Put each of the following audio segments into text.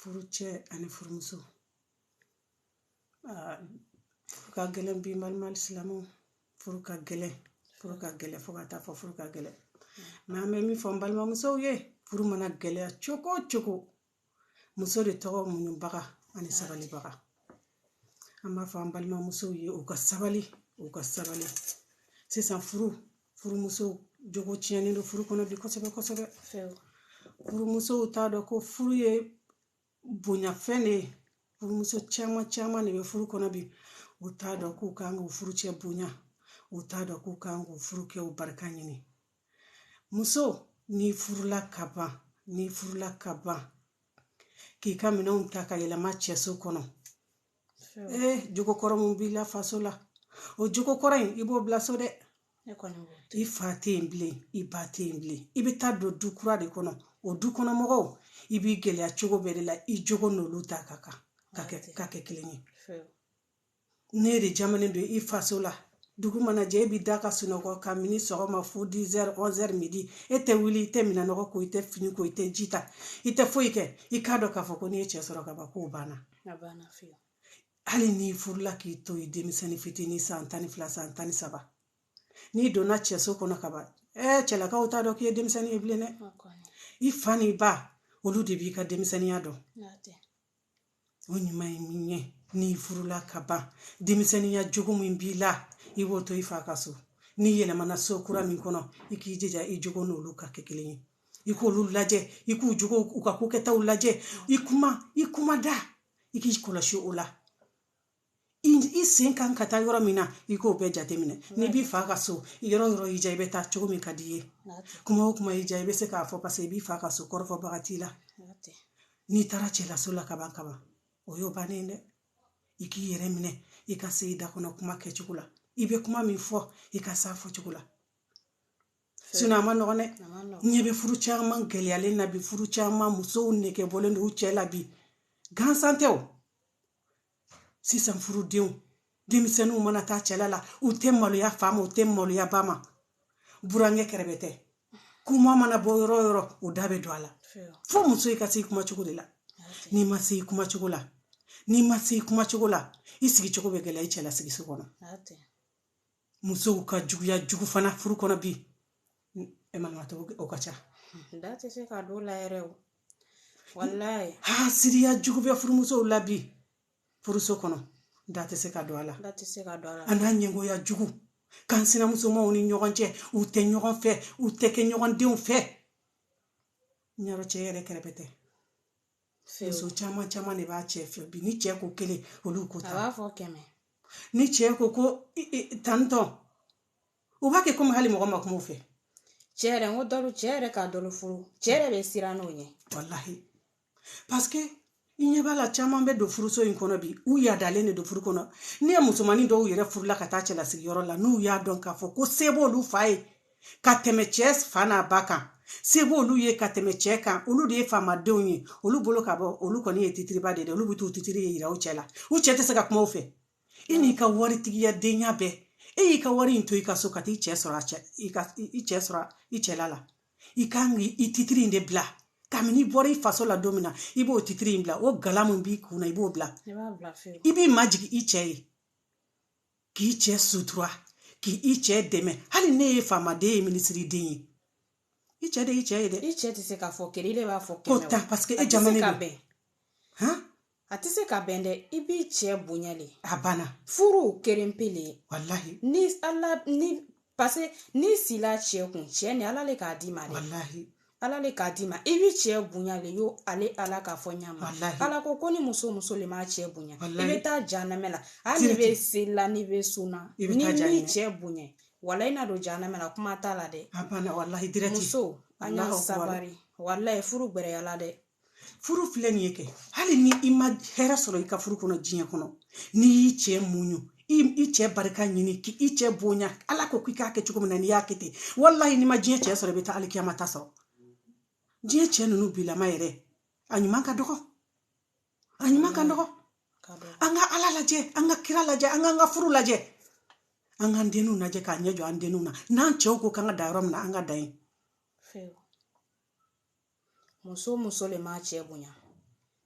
furucɛ ani furumuso aa furu ka gɛlɛn bi n balima silamɛw furu ka gɛlɛn furu ka gɛlɛn fo ka taa fɔ furu ka gɛlɛn mɛ an bɛ min fɔ an balimamusow ye furu mana gɛlɛya cogo o cogo muso de tɔgɔ muɲubaga ani sabalibaga an b'a fɔ an balimamusow ye u ka sabali u ka sabali sisan furu furumuso jogo tiɲɛnen don furu kɔnɔ bi kosɛbɛ kosɛbɛ furumusow t'a dɔn ko furu ye bonya fɛn de ye furumuso caman caman de bɛ furu kɔnɔ bi u t'a dɔn k'u kan k'u furucɛ bonya u t'a dɔn k'u kan k'u furukɛw barika ɲini muso n'i furula ka ban n'i furula ka ban k'i ka minɛnw ta ka yɛlɛma cɛso kɔnɔ ee jogo kɔrɔ mun b'i la faso la o jogo kɔrɔ in i b'o bila so dɛ i fa tɛ yen bilen i ba tɛ yen bilen i bɛ taa don du kura de kɔnɔ o du kɔnɔ mɔgɔw i b'i gɛlɛya cogo bɛɛ de la i jogo n'olu ta ka kan ka kɛ ka kɛ kelen ye ne de jamalen don i faso la dugu mana jɛ e b'i da ka sunɔgɔ kabini sɔgɔma fo dizɛri ɔnzɛri midi e tɛ wuli i tɛ minɛn nɔgɔ ko i tɛ fini ko i tɛ ji ta i tɛ foyi kɛ i k'a dɔn k'a fɔ ko n'i ye cɛ sɔrɔ ka ban k'o banna hali n'i furula k'i to i denmisɛnnin fitinin san tan ni fila san tan ni saba n'i donna cɛso kɔnɔ ka ban ɛɛ cɛlakaw t'a dɔn k'i ye denmisɛnnin ye bilen dɛ i fa n'i ba olu de b'i ka denmisɛnninya dɔn o ɲuman ye min ye n'i furula ka ban denmisɛnninya jogo min b'i la i b'o to i fa ka so n'i yɛlɛmana so kura min kɔnɔ i k'i jija i jogo n'olu ka kɛ kelen ye i k'olu lajɛ i k'u jogo u ka ko kɛtaw lajɛ i kuma i kuma da i k'i kɔlɔsi o la i sen kan ka taa yɔrɔ min na i k'o bɛɛ jateminɛ n'i b'i fa ka so yɔrɔ o yɔrɔ y'i diya i bɛ taa cogo min ka di i ye kuma o kuma y'i diya i bɛ se k'a fɔ paseke i b'i fa ka so kɔrɔfɔbaga t'i la n'i taara cɛlaso la ka ban ka ban o y'o bannen dɛ i k'i yɛrɛ minɛ i ka se i da kɔnɔ kuma kɛcogo la i bɛ kuma min fɔ i ka s'a fɔcogo la sinɔn a man nɔgɔn dɛ ɲɛ bɛ furu caman gɛlɛyalen na bi furu caman musow nege bɔlen don cɛ la bi gansan tɛ o sisan furudenw denmisɛnninw mana taa cɛla la u tɛ maloya fa ma u tɛ maloya ba ma burankɛ kɛrɛbɛtɛ kuma mana bɔ yɔrɔ o yɔrɔ u da bɛ don a la fo muso i ka se i kuma cogo de la n'i ma se i kuma cogo la n'i ma se i kuma cogo la i sigicogo bɛ gɛlɛya i cɛla sigiso kɔnɔ musow ka juguya jugu fana furu kɔnɔ bi e ma to o ka ca da tɛ se ka don a la yɛrɛ o walayi hasidiya jugu bɛ furumusow la bi furuso kɔnɔ da tɛ se ka don a la da tɛ se ka don a la a n'a ɲɛngoya jugu k'an sinamusomaw ni ɲɔgɔn cɛ u tɛ ɲɔgɔn fɛ u tɛ kɛ ɲɔgɔn denw fɛ ɲɛrɔ cɛ yɛrɛ kɛrɛbɛtɛ muso caman caman de b'a cɛ fɛ bi ni cɛ ko kelen olu ko tan a b'a fɔ kɛmɛ ni cɛ ko ko tantɔ u b'a kɛ komi hali mɔgɔ ma kuma u fɛ cɛ yɛrɛ n ko dɔ cɛ yɛrɛ ka dɔ furu cɛ yɛrɛ bɛ siran n'o ɲɛ walahi paseke i ɲɛ b'a la caman bɛ don furuso in kɔnɔ bi u yadalen de don furu kɔnɔ n'i ye musomanin dɔw yɛrɛ furula ka taa cɛlasigiyɔrɔ la n'u y'a dɔn k'a fɔ ko se b'olu fa ye ka tɛmɛ cɛ fa n'a ba kan se b'olu ye ka tɛmɛ cɛ kan olu de ye faamadenw ye olu bolo ka bon olu kɔni ye titiriba de ye olu bɛ t'u titiri in yira u cɛ la u cɛ tɛ se ka kuma u fɛ i n'i ka waritigiya denya bɛɛ e y'i ka wari in to i ka so ka t'i cɛ sɔrɔ a cɛ i ka i cɛ sɔrɔ i cɛla la i kan k'i titiri in de bila kabini i bɔra i faso la don min na i b'o titiri in bila o gala min b'i kun na i b'o bila i b'i majigin i cɛ ye k'i cɛ sutura k'i i cɛ dɛmɛ hali n'i ye faamaden ye minisiriden ye i cɛ de y'i cɛ ye dɛ i cɛ tɛ se k'a fɔ kelen ile b'a fɔ ko tan paseke e jama ka bɛn a tɛ se ka bɛn dɛ i b'i cɛ bonya le a banna furu kelen pe le walahi ni ala ni parce que n'i sila cɛ kun cɛ nin ala le k'a d'i ma dɛ ala le k'a d'i ma i b'i cɛ bonya le yo ale ala k'a fɔ ɲama ala ko ko ni muso muso le m'a cɛ bonya i bɛ taa janamɛ la hali n'i bɛ selila n'i bɛ sunna n'i m'i cɛ bonya walayi i na don janamɛ la kuma t'a la dɛ muso an ye sabari walayi furu gbɛrɛyala dɛ furu filɛ nin ye kɛ hali ni i ma hɛrɛ sɔrɔ i ka furu kɔnɔ diɲɛ kɔnɔ n'i y'i cɛ muɲu i cɛ barika ɲini k'i cɛ bonya ala ko k'i k'a kɛ cogo min na n'i y'a kɛ ten walahi n'i ma diɲɛ cɛ sɔrɔ i bɛ taa alikiyama ta sɔrɔ diɲɛ cɛ ninnu bilama yɛrɛ a ɲuman ka dɔgɔ a ɲuman ka dɔgɔ an ka ala lajɛ an ka kira lajɛ an k'an ka furu lajɛ an k'an denw lajɛ k'a ɲɛ jɔ an denw na n'an cɛw ko k'an ka da yɔrɔ min na an ka da yen muso muso le m'a cɛ bonya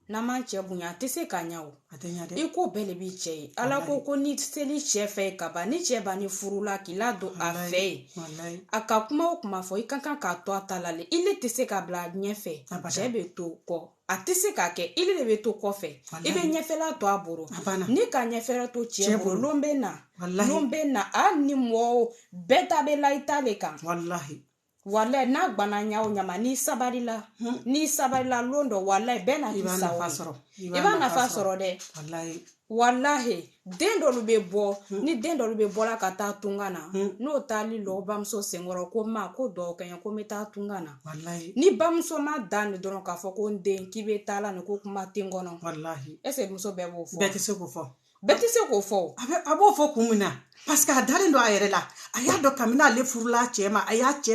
n'a m'a cɛ bonya a tɛ se ka ɲɛ o a tɛ ɲɛ dɛ i ko bɛɛ le b'i cɛ ye ala ko ko n'i sel'i cɛ fɛ yen ka ban ni cɛ bann'i furu la k'i ladon a fɛ yen a ka kuma o kuma fɔ i ka kan k'a to a ta la le ile tɛ se ka bila ɲɛfɛ cɛ bɛ to kɔ a tɛ se ka kɛ ile bɛ to kɔfɛ i bɛ ɲɛfɛla to a bolo n'i ka ɲɛfɛla to cɛ bolo lon bɛ na lon bɛ na hali ni mɔgɔ bɛɛ ta bɛ la i ta le kan walayi n'a gwanna ɲa o ɲa ma n'i sabarila hmm. n'i sabarila lon dɔ walayi i bɛ na k'i sago sɔrɔ i b'a nafa sɔrɔ dɛ walahi den dɔlu bɛ bɔ hmm. ni den dɔlu bɛ bɔla ka taa tunga na hmm. n'o taal'i lɔ bamuso senkɔrɔ ko ma ko duwa kɛ n ye ko n bɛ taa tunga na ni bamuso ma dan nin dɔrɔn k'a fɔ ko n den k'i bɛ taala nin ko kuma tɛ n kɔnɔ ɛseke muso bɛɛ b'o fɔ bɛɛ tɛ se k'o fɔ bɛɛ tɛ se k'o fɔ a bɛ a b'o fɔ kun min na paseke a dalen don a yɛrɛ la a y'a dɔn kabini ale furula a cɛ ma a y'a cɛ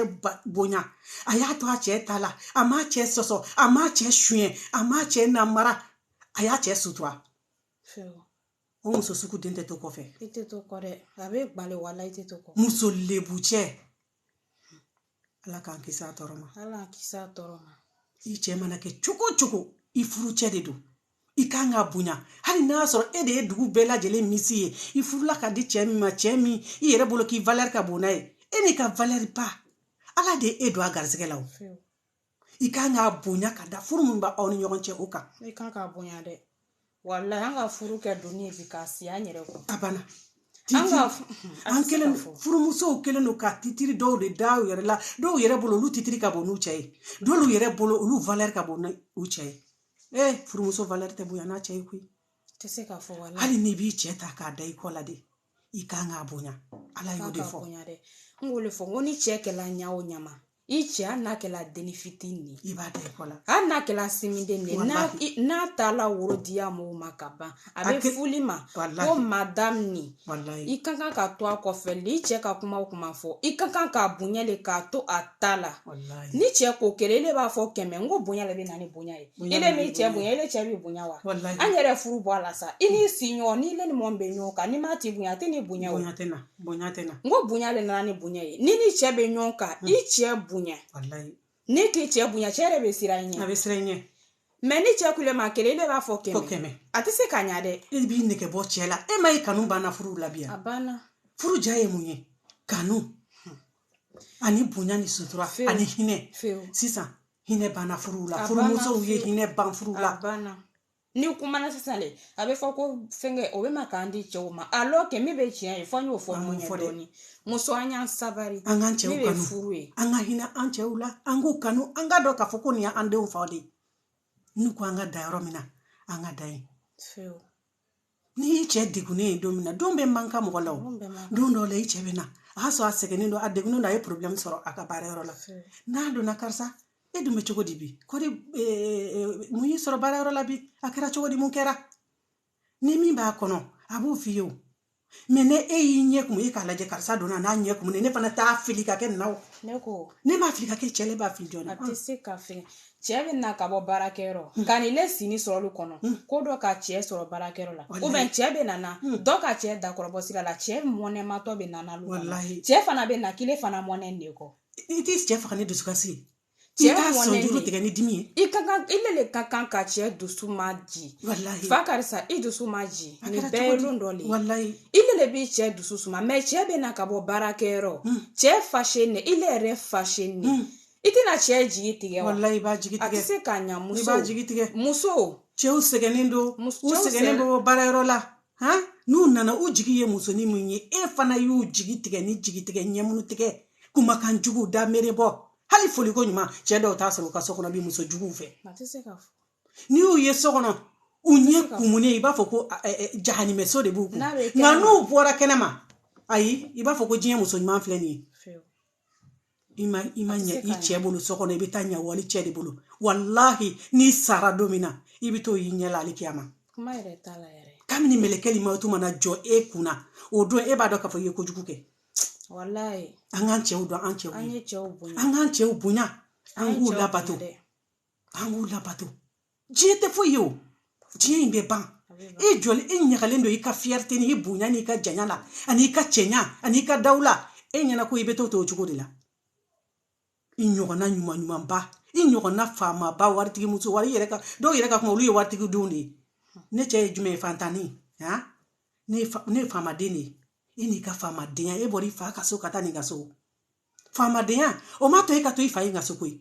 bonya a y'a to a cɛ ta la a m'a cɛ sɔsɔ a m'a cɛ suɲɛ a m'a cɛ namara a y'a cɛ sutura o muso sugu den tɛ to kɔfɛ i tɛ to kɔ dɛ a bɛ bali wala i tɛ to kɔ muso lebu cɛ ala k'an kisi a tɔɔrɔ ma ala k'an kisi a tɔɔrɔ ma i cɛ mana kɛ cogo o cogo i furucɛ de don i kan k'a bonya hali n'a y'a sɔrɔ e de ye dugu bɛɛ lajɛlen misi ye i furula ka di cɛ min ma cɛ min i yɛrɛ bolo k'i valɛri ka bon n'a ye e n'i ka valɛri ba ala de ye e don a garisɛgɛ la o i kan k'a bonya ka da furu min b'aw ni ɲɔgɔn cɛ o kan i kan k'a bonya dɛ walayi an ka furu kɛ doni ye bi k'a si an yɛrɛ kɔ a banna an kɛlen furumusow kɛlen don ka titiri dɔw de da u yɛrɛ la dɔw yɛrɛ bolo olu titiri ka bon n'u cɛ ye dɔw yɛrɛ bolo olu valɛri ka bon n'u cɛ ye ee eh, furumuso valɛri tɛ bonya n'a cɛ ye koyi tɛ se k'a fɔ walayi hali n'i b'i cɛ ta k'a da i kɔ la de i kan k'a bonya ala y'o de fɔ n k'o de fɔ n ko n'i cɛ kɛla ɲa o ɲa ma i cɛ hali n'a kɛla denni fitinin de ye i b'a da i kɔ la hali n'a kɛla sinminden de ye walayi n'a taala woro di a mɔgɔw ma ka ban a bɛ fɔ le i ma ko madamu nin walayi i ka kan ka to a kɔfɛ le i cɛ ka kuma o kuma fɔ i ka kan k'a bonya le k'a to a ta la walayi n'i cɛ ko kelen ele b'a fɔ kɛmɛ n ko bonya le bɛ na ni bonya ye ele m'i cɛ bonya ele cɛ b'i bonya wa walayi an yɛrɛ furu bɔ a la sa i n'i siɲɔgɔn n'ile ni mɔgɔ min bɛ ɲɔgɔn kan n'i m'a tigi bonya a tɛ n'i bonya o bonya tɛ na bonya tɛ na n ko bonya de nana ni bonya ye n'i n'i cɛ bɛ ɲɔgɔn kan i cɛ bonya n'i k'i cɛ bonya cɛ yɛrɛ bɛ siran i ɲɛ a bɛ siran i ɲɛ mɛ n'i cɛ kule ma kelen ele b'a fɔ kɛmɛ kɛmɛ a tɛ se ka ɲa dɛ e b'i nɛgɛ bɔ cɛ la e m'a ye kanu banna furu la bi a banna furu ja ye mun ye kanu ani bonya ni sutura ani hinɛ sisan hinɛ banna furu la furumusow ye hinɛ ban furu la n'i kumana sisan de a bɛ fɔ ko fɛnkɛ o bɛ ma k'an di cɛw ma alɔkɛ min bɛ tiɲɛ ye fɔ n y'o fɔ muɲu dɔɔni muso an y'an sabari an k'an cɛw kanu furu ye an ka hinɛ an cɛw la an k'u kanu an ka dɔn k'a fɔ ko nin y'an denw faw de ye n'u ko an ka da yɔrɔ min na an ka da yen n'i y'i cɛ degunnen ye don min na don bɛɛ man kan mɔgɔ la don dɔw la i cɛ bɛ na a y'a sɔrɔ a sɛgɛnnen don a degunnen don a ye porobilɛmu sɔrɔ a ka baara yɔrɔ la n'a donna karisa e dun bɛ cogo di bi ko di mun y'i sɔrɔ baara yɔrɔ la bi a kɛra cogo di mun kɛra ni min b'a kɔnɔ a b'o f'i ye o mɛ n'e y'i ɲɛ kumu e k'a lajɛ karisa donna n'a ɲɛ kumu ne fana t'a filɛ ka kɛ naw ne ko ne m'a filɛ ka kɛ cɛ ne b'a filɛ jɔn a tɛ se ka fɛn cɛɛ bɛ na ka bɔ baarakɛyɔrɔ hmm. ka n'i le sini sɔrɔ lu kɔnɔ hmm. ko dɔ ka cɛɛ sɔrɔ baarakɛyɔrɔ la ou bien cɛɛ bɛ nana hmm. dɔ ka cɛɛ dakɔrɔbɔ sira la cɛɛ mɔnɛmatɔ bɛ nana lu cɛɛ fana bɛ na k'i le fana mɔnɛ de kɔ i t'i cɛɛ faga ni dusukasi ye i t'a sɔnjuru tigɛ ni dimi ye i ka kan i le le ka kan ka cɛɛ dusu ma ji fa karisa i dusu ma ji nin bɛɛ ye lon dɔ le i le le b'i cɛɛ dusu suma mais cɛɛ bɛ na ka bɔ baarakɛyɔrɔ cɛɛ fâché ne i le yɛrɛ fâché ne i tɛna cɛ jigi tigɛ wa walayi i b'a jigi tigɛ a tɛ se k'a ɲa muso i b'a jigi tigɛ muso cɛw sɛgɛnnen don u sɛgɛnnen bɛ bɔ baarayɔrɔ la han n'u nana u jigi ye musonin min ye e fana y'u jigi tigɛ ni jigi tigɛ ɲɛmunu tigɛ kumakan jugu da mere bɔ hali foliko ɲuman cɛ dɔw t'a sɔrɔ u ka so kɔnɔ bi muso juguw fɛ n'i y'u ye so kɔnɔ u ɲɛ kumunen i b'a fɔ ko jahanimɛso de b'u kun nka n'u bɔra kɛnɛma ayi i b'a fɔ ko diɲɛ muso ɲuman filɛ nin ye i ma i ma ɲɛ i cɛ bolo so kɔnɔ i bɛ taa ɲɛ wali cɛ de bolo walahi n'i sara don min na i bɛ t'o y'i ɲɛ la hali kiyama kuma yɛrɛ t'a la yɛrɛ kabini mɛlɛkɛli mawutu mana jɔ e kun na o don e b'a dɔn k'a fɔ i ye kojugu kɛ walayi an k'an cɛw dɔn an cɛw an ye cɛw bonya an k'an cɛw bonya an k'u labato an k'u labato diɲɛ tɛ foyi ye o diɲɛ in bɛ ban i jɔlen i ɲagalen don i ka fierté ni i bonya n'i ka janya la an'i ka cɛɲa an'i ka dawula e ɲɛna ko i bɛ to to o cogo de la i ɲɔgɔnna ɲuman ɲumanba i ɲɔgɔnna faamaba waritigi muso wari yɛrɛ ka dɔw yɛrɛ ka kuma olu ye waritigi denw de ye ne cɛ ye jumɛn ye fantanni han ne ye faamaden de ye e n'i ka faamadenya e bɔra i fa ka so ka taa nin ka so faamadenya o ma to e ka to i fa in ka so koyi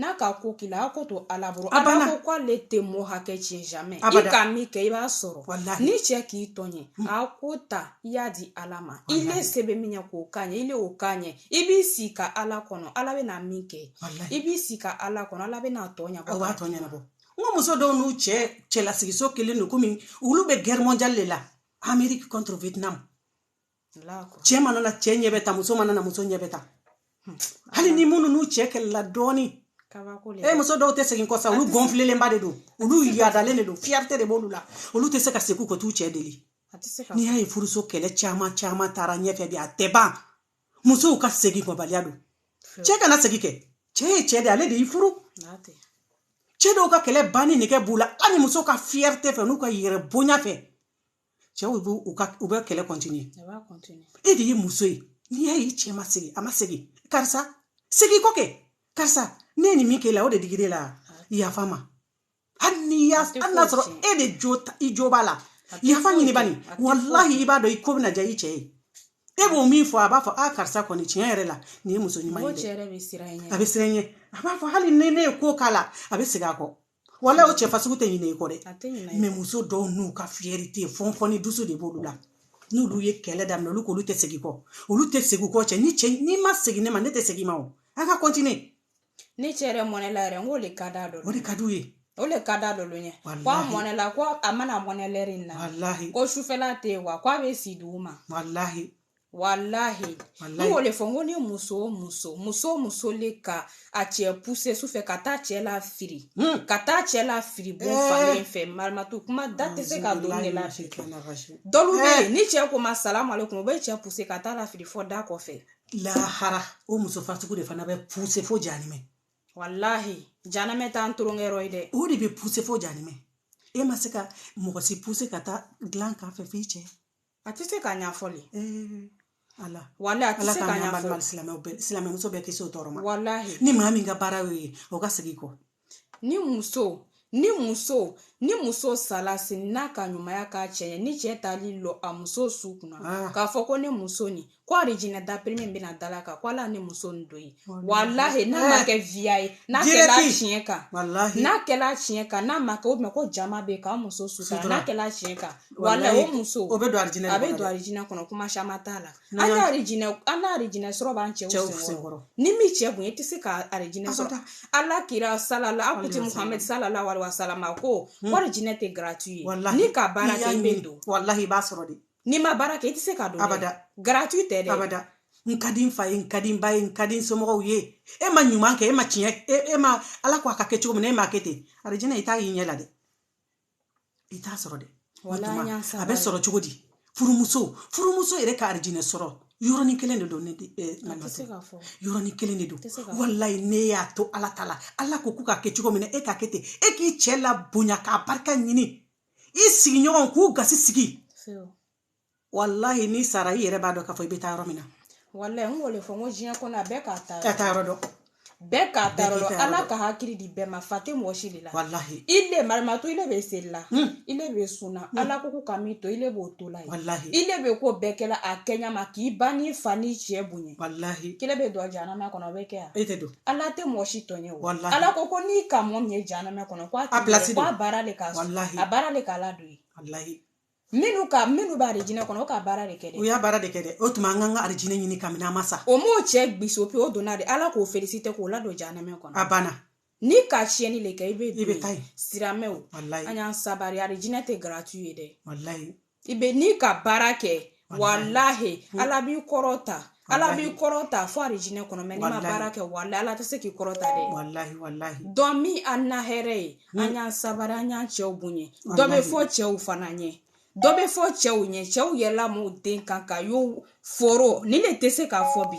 n'a ka ko k'i la a ko to ala bolo ala ko k'ale tɛ mɔɔ hakɛ tiɲɛ jamais i ka min kɛ i b'a sɔrɔ ni cɛ k'i tɔɲɛ a ko ta i y'a di ala ma i le se bɛ min ɲɛ k'o k'a ɲɛ i le o k'a ɲɛ i b'i si ka ala kɔnɔ ala bɛna min kɛ i b'i si ka ala kɔnɔ ala bɛna tɔ ɲɛbɔ b'a tɔ ɲɛnabɔ n ko muso dɔw n'u cɛ cɛlasigiso kelen don komi olu bɛ guerre mondiale de la Amérique contre Vietnam cɛ mana na cɛ ɲɛ bɛ tan muso mana na muso ɲɛ bɛ tan hmm. hali ni minnu n'u cɛ kɛlɛla dɔɔni e muso dɔw tɛ segin kɔfɛ olu gonflelenba de don olu yadalen de don fierté de b'olu la olu tɛ se ka segin ka t'u cɛ deli n'i y'a ye furuso kɛlɛ caman caman taara ɲɛfɛ bi a tɛ ban musow ka segin kɔbaliya don cɛ kana segin kɛ cɛ ye cɛ de ale de y'i furu cɛ dɔw ka kɛlɛ banni nɛgɛ b'u la hali muso ka fierté fɛ n'u ka yɛrɛ bonya fɛ cɛw b'u u ka u bɛ kɛlɛ continuer e de ye muso ye n'i y'a ye cɛ ma segin a ma segin karisa segin kɔ kɛ karisa ne ye nin min k'e la o de digir'e la yafa ma hali n'i y'a hali n'a sɔrɔ e de jo i jo b'a la yafa ɲini bani walahi i b'a dɔn i ko bɛna diya i cɛ ye e b'o min fɔ a b'a fɔ a karisa kɔni tiɲɛ yɛrɛ la nin ye muso ɲuman ye dɛ a bɛ siran ɲɛ a b'a fɔ hali ni ne ye ko k'a la a bɛ segin a kɔ wala o cɛ fasugu tɛ ɲinɛ i kɔ dɛ mais muso dɔw n'u ka fierté fɔnfɔnni dusu de b'olu la n'olu ye kɛlɛ daminɛ olu k'olu tɛ segin kɔ olu tɛ segin kɔ cɛ ni cɛ n'i ma segin ne ma ne tɛ segin ma o a ka continuer ni cɛ yɛrɛ mɔnɛla yɛrɛ n k'o de ka d'a dɔ o de ka d'u ye o le ka di dɔlu ye ko a mɔnɛla ko a mana mɔnɛ lɛri in na ko sufɛla tɛ yen wa ko a bɛ si dugu ma walahi walahi ne y'o de fɔ n ko ni muso o muso muso o muso le ka a cɛ pousser su fɛ ka taa cɛ lafiri hmm. ka taa cɛ lafiri bon eh. fan kelen fɛ marimatu kuma da tɛ se ka don ne la dɔlu bɛ yen eh. ni cɛ k'o ma salamu aleykum o bɛ cɛ pousser ka taa lafiri fo da kɔfɛ lahara o muso fasugu de fana bɛ pousser fo janimɛ walahi janamɛ t'an tolonkɛyɔrɔ ye dɛ o de bɛ pousser fo janimɛ e ma se ka mɔgɔ si pousser ka taa dilan kan fɛ f'i cɛ a tɛ se ka ɲɛfɔ le walahi a tɛ se ka ɲɛfɔ silamɛmuso bɛɛ kisi o tɔɔrɔ ma walahi ni maa min ka baara y'o ye o ka segin kɔ ni muso ni muso ni muso sala sin n'a ka ɲumanya k'a cɛ ye ni cɛ taal'i lɔ a muso su kunna ah. k'a fɔ ko ne muso nin ko arijinɛ da premier min bɛna da laka ko ala ne muso nin don yen walahi n'a ma kɛ riya ye n'a kɛla tiɲɛ kan n'a kɛla tiɲɛ kan n'a ma kɛ o tuma ko jama bɛ k'an muso sutura n'a kɛla tiɲɛ kan walahi o muso o bɛ don alijinɛ a bɛ don alijinɛ kɔnɔ kuma caman t'a la an ka alijinɛ an ka alijinɛ sɔrɔ b'an cɛw senkɔrɔ ni min cɛ kun ye i tɛ se ka alijinɛ sɔrɔ ala kira salala an kuntigi muhamɛdi salalahu alayihi wasalama ko ko alijinɛ tɛ gratuit ye n'i ka baara kɛ i bɛ don walahi i b'a sɔrɔ dɛ n'i ma baara kɛ i tɛ se ka don abada gratuit tɛ dɛ abada n ka di n fa ye n ka di n ba ye n ka di n somɔgɔw ye e ma ɲuman kɛ e ma tiɲɛ e, e ma ala ko a ka kɛ cogo min na e m'a kɛ ten arijinɛ i t'a y'i ɲɛ la dɛ i t'a sɔrɔ dɛ a bɛ sɔrɔ cogo di furumuso furumuso yɛrɛ ka arijinɛ sɔrɔ yɔrɔnin kelen de don ne eh, yɔrɔnin kelen de don walahi n'e y'a to ala ta la ala ko ko ka kɛ cogo min na e k'a kɛ ten e k'i cɛ labonya k'a barika ɲini i sigiɲɔgɔn k'u gasi sigi walahi n'i sara i yɛrɛ b'a dɔn k'a fɔ i bɛ taa yɔrɔ min na walahi n k'o de fɔ n ko diɲɛ kɔnɔ a bɛɛ k'a ta k'a taayɔrɔ dɔn bɛɛ k'a taayɔrɔ dɔn ala ka hakili di bɛɛ ma fa tɛ mɔgɔ si de la walahi i le marimatu i le bɛ seli la hmm. i le bɛ sun na hmm. ala ko ko ka min to i le b'o to la ye walahi i le bɛ ko bɛɛ kɛla a kɛɲɛ ma k'i ba n'i fa n'i cɛ bonya walahi k'i le bɛ don janama kɔnɔ o bɛ kɛ yan e tɛ don ala tɛ mɔgɔ si tɔɲɔ ala ko ko n'i ka mɔgɔ min ye janama kɔnɔ a baara de a baara de k'a ladon yen minnu ka minnu b'alijinɛ kɔnɔ ka baara de kɛ u y'a baara de kɛ dɛ o tuma an kan ka alijinɛ ɲini kamini an ma sa o m'o cɛ biso pe o donna de ala k'o felisite k'o ladon janama kɔnɔ a banna n'i ka tiɲɛni de kɛ i bɛ i bɛ taa siramɛw an y'an sabari alijinɛ tɛ garatu ye dɛ i bɛ n'i ka baara kɛ walahi hmm. ala b'i kɔrɔta ala b'i kɔrɔta fo alijinɛ kɔnɔ mɛ n'i ma baara kɛ walahi ala tɛ se k'i kɔrɔta dɛ walahi walahi don min an na hɛrɛ ye hmm. an y'an sabari an y'an cɛw bonya dɔ bɛ fɔ cɛw fana ɲɛ dɔ bɛ fɔ cɛw ɲɛ cɛw yɛlɛla m'u den kan ka y'u foro ni ne tɛ se k'a fɔ bi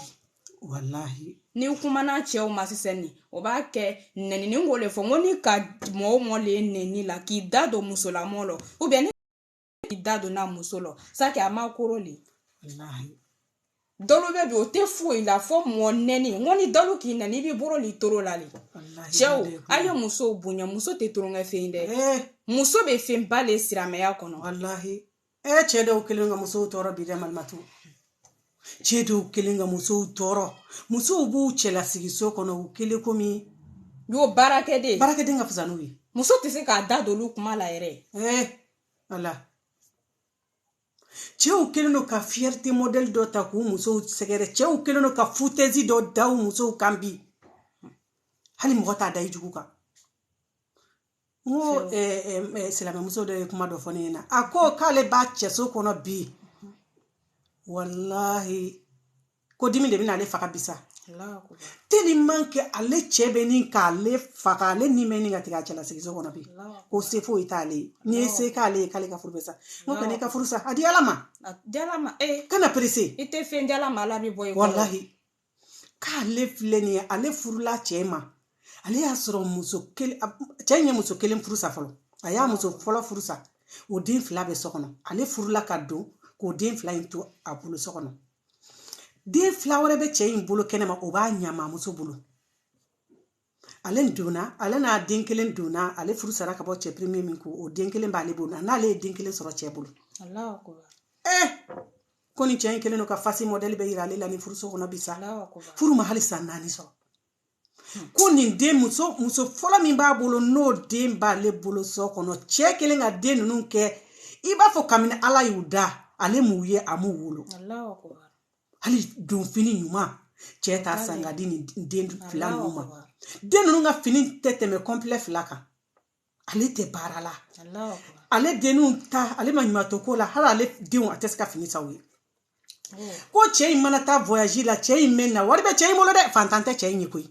walahi n'i kumana cɛw ma sisan nin o b'a kɛ nɛnini ko le fɔ n ko n'i ka mɔgɔ mɔlen nɛni la k'i da don musolamɔ la ubiyɛn k'i da don n'a muso la sake a ma koro le dɔlu bɛ bi o tɛ foyi la fo mɔ nɛni n ko ni dɔlu k'i nɛni i b'i bolo l'i toro la de cɛw a ye musow bonya muso tɛ toronkɛfɛn dɛ muso bɛ fɛnba le siramɛya kɔnɔ walahi ee cɛ dɔw kelen ka musow tɔɔrɔ bi dɛ malimatu cɛ dɔw kelen ka musow tɔɔrɔ musow b'u cɛlasigiso kɔnɔ u kelen komi iyo baarakɛden baarakɛden ka fisa n'u ye muso tɛ se k'a da don olu kuma la yɛrɛ ɛɛ ala cɛw kelen don ka fiyɛrite mɔdɛli dɔ ta k'u musow sɛgɛrɛ cɛw kelen don ka futɛzi dɔ da u musow kan bi hali mɔgɔ t'a da i jugu kan n ko silamɛmuso dɔ ye kuma dɔ fɔ ne ɲɛna a ko k'ale b'a cɛso kɔnɔ bi walahi ko dimi de bɛna ale faga bi sa tɛlɛman kɛ ale cɛ bɛ ɲini k'ale faga ale ni bɛ ɲini ka tigɛ a cɛlasigiso kɔnɔ bi ko se foyi t'ale ye n'i ye se k'ale ye k'ale ka furu bɛ sa n ko kan'i ka furu sa a di ala ma kana perese i tɛ fɛn di ala ma ala bɛ bɔ walahi k'ale filɛ nin ye ale furula cɛ ma ale y'a sɔrɔ muso kelen cɛ in ye muso kelen furu sa fɔlɔ a y'a muso fɔlɔ furu sa o den fila bɛ so kɔnɔ ale furula ka don k'o den fila in to a bolo so kɔnɔ den fila wɛrɛ bɛ cɛ in bolo kɛnɛma o b'a ɲamamuso bolo ale donna ale n'a den kelen donna ale furu sara ka bɔ cɛ pirimiye min ko o den kelen b'ale bolo n'ale ye den kelen sɔrɔ cɛ bolo ee ko nin cɛ in kelen don ka fasi mɔdɛli bɛɛ yira ale la ni furuso kɔnɔ bi sa furu ma hali san naani sɔrɔ ko nin den muso muso fɔlɔ min b'a bolo n'o den b'ale bolo so kɔnɔ cɛ kelen ka den ninnu kɛ i b'a fɔ kabini ala y'u da ale m'u ye a m'u wolo hali donfini ɲuman cɛ t'a san ka di nin den fila ninnu ma den ninnu ka fini tɛ tɛmɛ kɔnpilɛ fila kan ale tɛ baara la ale denninw ta ale ma ɲuman to ko la hali ale denw a tɛ se ka fini san u ye ko cɛ in mana taa voyage la cɛ in mɛnna wari bɛ cɛ in bolo dɛ fantan tɛ cɛ in ye koyi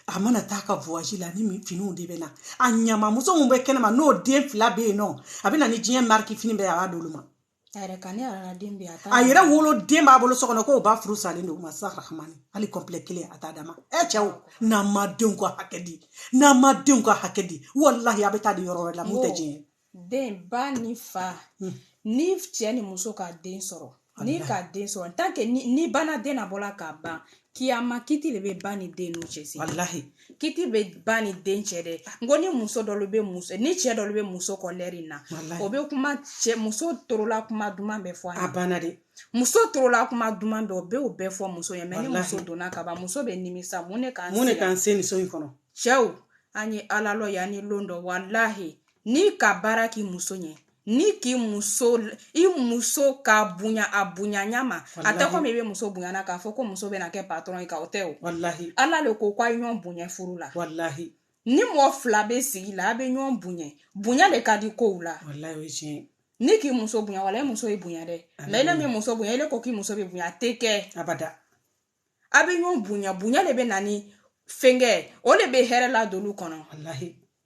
a mana taa ka voyage la ni finiw de bɛ na a ɲama muso min bɛ kɛnɛma n'o den fila bɛ yen nɔ a bɛ na ni diɲɛ mariki fini bɛɛ a b'a d'olu ma a yɛrɛ ka ne yɛrɛ den bɛ a yɛrɛ wolo den b'a bolo so kɔnɔ k'o ba furusalen don ma sa rahamani hali kɔnpilɛ kelen a t'a d'a ma ɛ cɛw n'an ma denw ka hakɛ di n'an ma denw ka hakɛ di walahi a bɛ taa di yɔrɔ wɛrɛ la min tɛ diɲɛ den ba ni fa ni cɛ ni muso ka den sɔrɔ ni ka den sɔrɔ tant que ni bana den nabɔ la ka ban kiyama kiti de bɛ ba ni den n'u cɛ walahi kiti bɛ ba ni den cɛ dɛ n ko ni muso dɔ bɛ muso ni cɛ dɔ bɛ muso kɔ lɛri in na o bɛ kuma cɛ muso tulo la kuma duman bɛɛ fɔ a banna dɛ muso tulo la kuma duman bɛɛ o bɛ o bɛɛ fɔ muso ye mɛ ni muso donna ka ban muso bɛ nimisa mun ne ka mun de k'an se nin so in kɔnɔ cɛw an ye ala lɔn yanni don dɔ walahi n'i ka baara k'i muso ɲɛ n'i k'i muso i muso ka bonya a bonyaɲa ma a tɛ komi i bɛ muso bonya na k'a fɔ ko muso bɛna kɛ patɔrɔn ye ka o tɛ o ala le ko k'a ye ɲɔgɔn bonya furu la ni mɔgɔ fila bɛ sigi la a bɛ ɲɔgɔn bonya bonya de ka di kow la n'i k'i muso bonya wala e muso y'i bonya dɛ mɛ e m'i muso bonya e ko k'i muso b'i bonya a tɛ kɛ abada a bɛ ɲɔgɔn bonya bonya de bɛ na ni fɛnkɛ o de bɛ hɛrɛ ladon lu kɔnɔ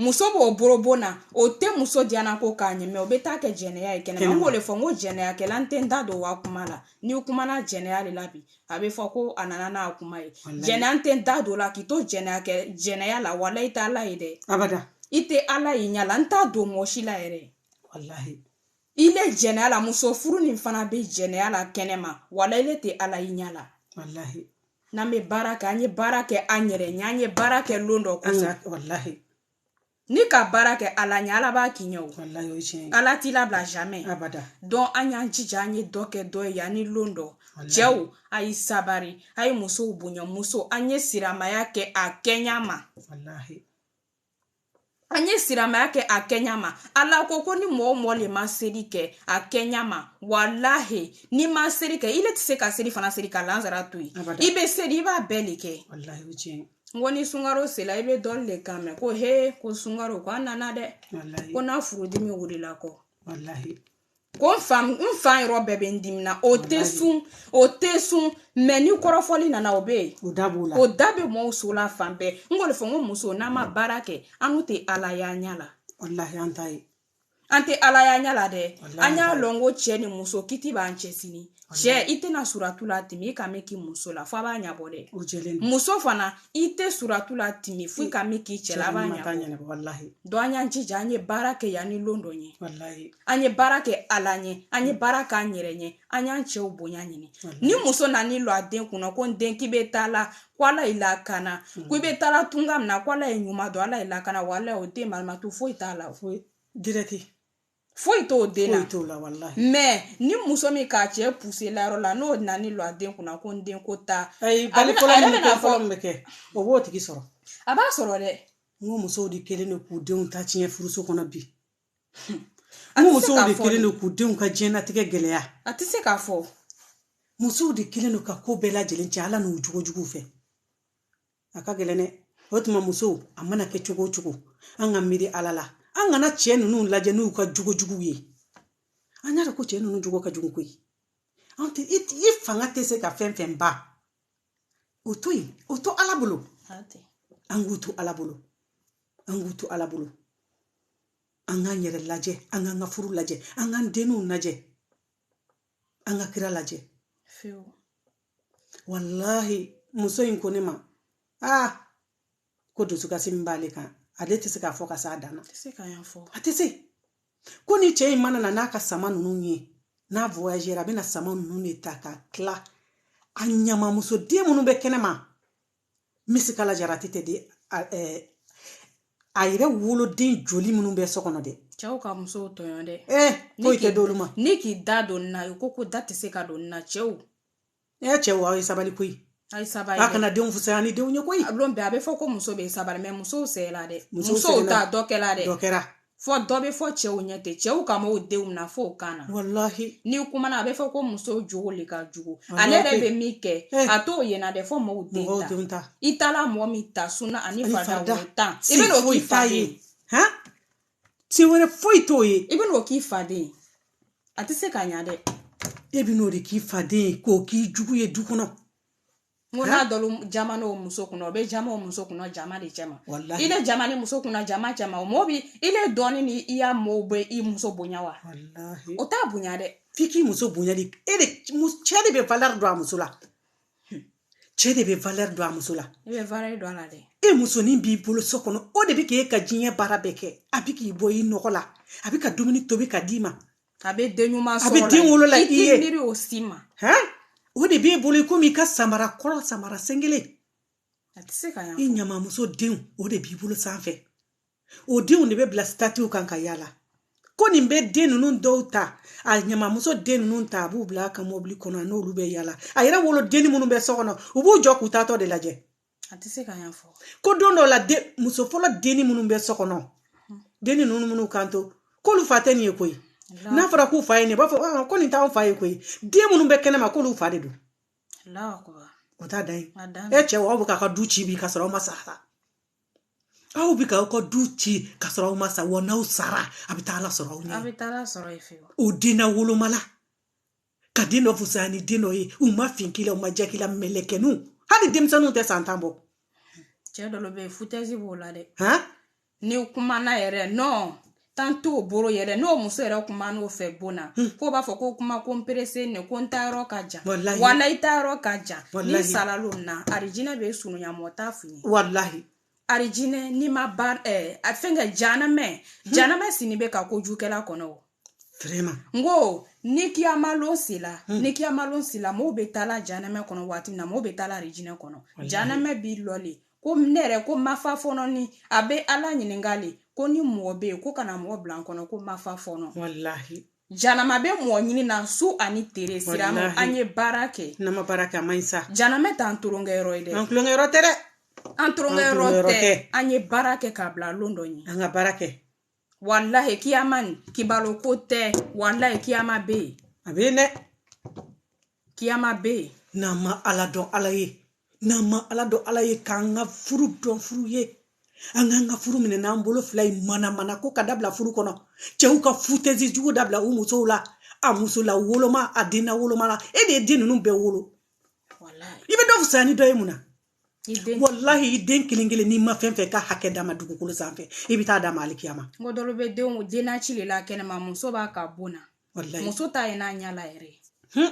muso b'o boro bon na o tɛ muso diyana ko k'a ɲɛ mɛ o bɛ taa kɛ jɛnɛya ye kɛnɛma n b'o le fɔ n ko jɛnɛyakɛla n tɛ n da don wa kuma la n'i kumana jɛnɛya de la bi a bɛ fɔ ko a nana n'a kuma ye jɛnɛya n tɛ n da don la k'i to jɛnɛya kɛ jɛnɛya la wala i tɛ ala ye dɛ abada i tɛ ala ye ɲa la n t'a dogo mɔgɔ si la yɛrɛ walahi i le jɛnɛya la muso furunin fana bɛ jɛnɛya la kɛnɛma wala i le tɛ ala ye ɲa la walahi n'an bɛ baara kɛ an ye baara kɛ an yɛrɛ ɲɛ an ye baara kɛ lon dɔ kosɔn walahi n'i ka baara kɛ ala ɲɛ ala b'a k'i ɲɛ o walahi o tiɲɛ ala t'i labila jamais abada donc an y'an jija an ye dɔ kɛ dɔ ye yani lon dɔ cɛw a ye sabari a ye musow bonya muso an ye siramaya kɛ a kɛɲa ma walahi an ye siramaya kɛ a kɛɲa ma ala ko ko ni mɔgɔ o mɔgɔ le ma seli kɛ a kɛɲa ma walahi n'i ma seli kɛ i le tɛ se ka selifana seli ka lansara to yen i bɛ seli i b'a bɛɛ le kɛ n ko ni sunkaro sela i bɛ dɔ le kan mɛn ko he ko sunkaro ko a nana dɛ ko n'a furudimi wulila kɔ ko n fan yɔrɔ bɛɛ bɛ n dimi na o tɛ sun o tɛ sun mɛ ni kɔrɔfɔli nana o bɛ yen o da b'o la o da bɛ mɔɔw so la fan bɛɛ n k'o le fɔ n ko muso n'an ma baara kɛ annu tɛ ala y'a ɲɛ la walahi an ta ye an tɛ ala y'a ɲɛ la dɛ an y'a lɔn ko cɛ ni muso kiti b'an cɛ sini cɛ i tɛna suratu latɛmɛ i ka min k'i muso la fo a b'a ɲɛbɔ dɛ muso fana i tɛ suratu latɛmɛ fo i ka min k'i cɛ la b'a ɲɛnabɔ walahi donc an y'an jija an ye baara kɛ yanni lon dɔ ye walahi an ye baara kɛ ala ɲɛ an ye baara kɛ an yɛrɛ ɲɛ an y'an cɛw bonya ɲini ni muso nani lɔ a den kunna ko n den k'i bɛ taa la ko ala y'i lakana ko i bɛ taa la tunga min na ko ala y'i ɲuman don ala y'i lakana walahi o den marimatu foyi t'a la foyi dirɛti foyi t'o den na foyi t'o la walahi mɛ ni muso min k'a cɛ puse layɔrɔ la n'o nana ni lɔ a den kunna ko n den ko ta ayi bali fɔlɔ min bɛ kɛ fɔlɔ min bɛ kɛ o b'o tigi sɔrɔ a b'a sɔrɔ dɛ n ko musow de kɛlen don k'u denw ta tiɲɛ furuso kɔnɔ bi n ko musow de kɛlen don k'u denw ka diɲɛnatigɛ gɛlɛya a tɛ se k'a fɔ musow de kɛlen don ka ko bɛɛ lajɛlen cɛn ala n'u jogo jugu fɛ a ka gɛlɛn dɛ o tuma muso a mana kɛ cogo o cogo an ka miiri ala la an kana cɛ ninnu lajɛ n'u ka jogo jugu ye an y'a dɔn ko cɛ ninnu jogo ka jugu koyi an tɛ i fanga tɛ se ka fɛn fɛn ban o to yen o to ala bolo an k'u to ala bolo an k'u to ala bolo an k'an yɛrɛ lajɛ an k'an ka furu lajɛ an k'an denw lajɛ an ka kira lajɛ walahi muso in ko ne ma aa ko dusukasi min b'ale kan ale tɛ se k'a fɔ ka s'a dan na a tɛ se ko ni cɛ in mana na n'a ka sama ninnu ye n'a voyagera a bɛna sama ninnu de ta ka tila a ɲamamuso den minnu bɛ kɛnɛma misikala jarati tɛ di a yɛrɛ woloden joli minnu bɛ so kɔnɔ dɛ cɛw ka musow tɔɲɔ dɛ ee foyi tɛ d'olu ma n'i k'i da don na i ko ko da tɛ se ka don na cɛw e cɛw aw ye sabali koyi a ye sabali a kana denw fusaya ni denw ye koyi a don bɛɛ a bɛ fɔ ko muso bɛ sabali mɛ musow sɛgɛla dɛ musow ta dɔ kɛla dɛ dɔ kɛra fo dɔ bɛ fɔ cɛw ɲɛ dɛ cɛw ka mɔɔw denw mina fo o kan na walahi n'i kumana a bɛ fɔ ko muso jogo le ka jugu Walahi. ale yɛrɛ bɛ min kɛ Eh. a t'o yena dɛ fo mɔgɔw den mɔgɔw ta denw ta i taala mɔgɔ min ta sunna ani farida wɛrɛ tan i bɛ n'o k'i faden han se wɛrɛ foyi t'o ye i bɛ n'o k'i faden a tɛ se ka ɲa dɛ e bɛ n'o de k'i faden ye k'o k'i jugu ye du kɔnɔ n ko n'a dɔlu jaman'o muso kunna o bɛ jama o muso kunna jama de cɛ ma ile jaman'i muso kunna jama cɛ ma o mɔɔ bi ile dɔɔni ni i ya mɔɔw bɛ i muso bonya wa o t'a bonya dɛ f'i k'i muso bonya de e de cɛ de bɛ valeur don a muso la cɛ de bɛ valeur don a muso la i bɛ valeur don a la dɛ e musonin b'i bolo so kɔnɔ o de bɛ k'e ka diɲɛ baara bɛɛ kɛ a bɛ k'i bɔ i nɔgɔ la a b'i ka dumuni tobi ka d'i ma a bɛ den ɲuman sɔrɔ a bɛ den wolo la i ye miiri o si ma o de b'e bolo i komi i ka samara kɔrɔ samara sen kelen a tɛ se ka yan i ɲamamuso denw o de b'i bolo sanfɛ o denw de bɛ bila sitatiw kan ka yaala ko nin bɛ den ninnu dɔw ta a ɲamamuso den ninnu ta a b'u bila a ka mɔbili kɔnɔ n'olu bɛ yaala a yɛrɛ wolodenni minnu bɛ so kɔnɔ u b'u jɔ k'u taatɔ de lajɛ a tɛ se ka yan fɔ ko don dɔ la muso fɔlɔ denni minnu bɛ so kɔnɔ denni ninnu minnu kan to k'olu fa tɛ nin ye koyi n'a fɔra k'u fa ye nin b'a fɔ ah, ko nin t'anw fa ye koyi den minnu bɛ kɛnɛma k'olu fa de don o t'a da ye e cɛw aw bɛ k'a ka du ci bi ka sɔrɔ aw ma sa aw bɛ k'aw ka du ci ka sɔrɔ aw ma sa wa n'aw sara a bɛ taa ala sɔrɔ aw ɲɛ o den na woloma la ka den dɔ fusaya ni den dɔ ye u ma fin k'i la u ma jɛ k'i la mɛlɛkɛninw hali denmisɛnninw tɛ san tan bɔ cɛ dɔ bɛ yen futɛsi b'o la dɛ n'i kumana yɛrɛ nɔn tan t'o bolo yɛrɛ n'o muso yɛrɛ kumana o fɛ bon na hmm. ko b'a fɔ ko kuma ko n peresenen ko n taayɔrɔ ka jan wala i taayɔrɔ ka jan n'i sala lon na arijinɛ bɛ surunya mɔgɔ t'a f'i ye walahi arijinɛ n'i ma ba eh, a fɛn kɛ janamɛ hmm. janamɛ sini bɛ ka kojukɛla kɔnɔ o Vraiment. n ko ni kiyamalon sela hmm. ni kiyamalon sela mɔgɔw bɛ taa la janamɛ kɔnɔ waati min na mɔgɔw bɛ taa la arijinɛ kɔnɔ janamɛ b'i lɔ le ko ne yɛrɛ ko n ma fa fɔlɔ ni a bɛ ala ɲininka le ko ni mɔgɔ bɛ yen ko ka na mɔgɔ bila n kɔnɔ ko n ma fa fɔlɔ walahi Janama bɛ mɔgɔ ɲini na su ani tere silama an ye baara kɛ n'an ma baara kɛ a man ɲi sa janama t'an tulonkɛ yɔrɔ ye dɛ an tulonkɛ yɔrɔ tɛ dɛ an tulonkɛ yɔrɔ tɛ an ye baara kɛ k'a bila lon dɔ ɲɛ an ka baara kɛ walahi kiyama nin kibalo ko tɛ walahi kiyama bɛ yen a bɛ yen dɛ kiyama bɛ yen n'an ma ala dɔn ala ye n'an ma ala dɔn ala ye k'an ka furu dɔn furu ye an k'an ka furu minɛ n'an bolo fila ye manamanako ka dabila furu kɔnɔ cɛw ka futɛzi jugu dabila u musow la a musola woloma a denna woloma la e de ye den ninnu bɛɛ wolo i bɛ dɔ fisaya ni dɔ ye mun na walahi i den kelen kelen n'i ma fɛn fɛn ka hakɛ d'a ma dugukolo sanfɛ i bɛ taa d'a ma alikiyama mɔɔ dɔlu bɛ denw denna ci de la kɛnɛma muso b'a ka bon na muso t'a ye n'a ɲa la yɛrɛ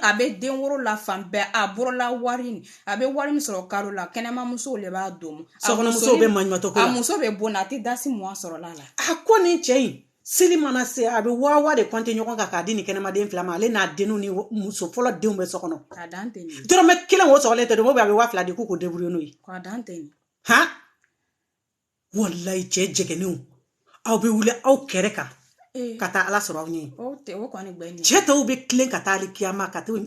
a bɛ den woro la fan bɛɛ a bolola wari a bɛ wari min sɔrɔ kalo la kɛnɛmamuso de b'a dɔn sokɔnɔmuso bɛ maɲumatɔ ko la a muso bɛ bon na a tɛ dasi muwan sɔrɔ la la a ko nin cɛ in seli mana se a bɛ waa de kɔnte ɲɔgɔn kan k'a di nin kɛnɛmaden fila ma ale n'a den ni muso fɔlɔ denw bɛ so kɔnɔ dɔrɔmɛ kelen wo sɔgɔlen tɛ d'olu ma a bɛ waa fila di ko k'u débrouiller n'o ye walayi cɛ jɛgɛnenw aw bɛ wuli aw kɛrɛ kan eh. ka taa ala sɔrɔ aw ɲɛ cɛ tɔw bɛ tilen ka taa alikiyama ka taa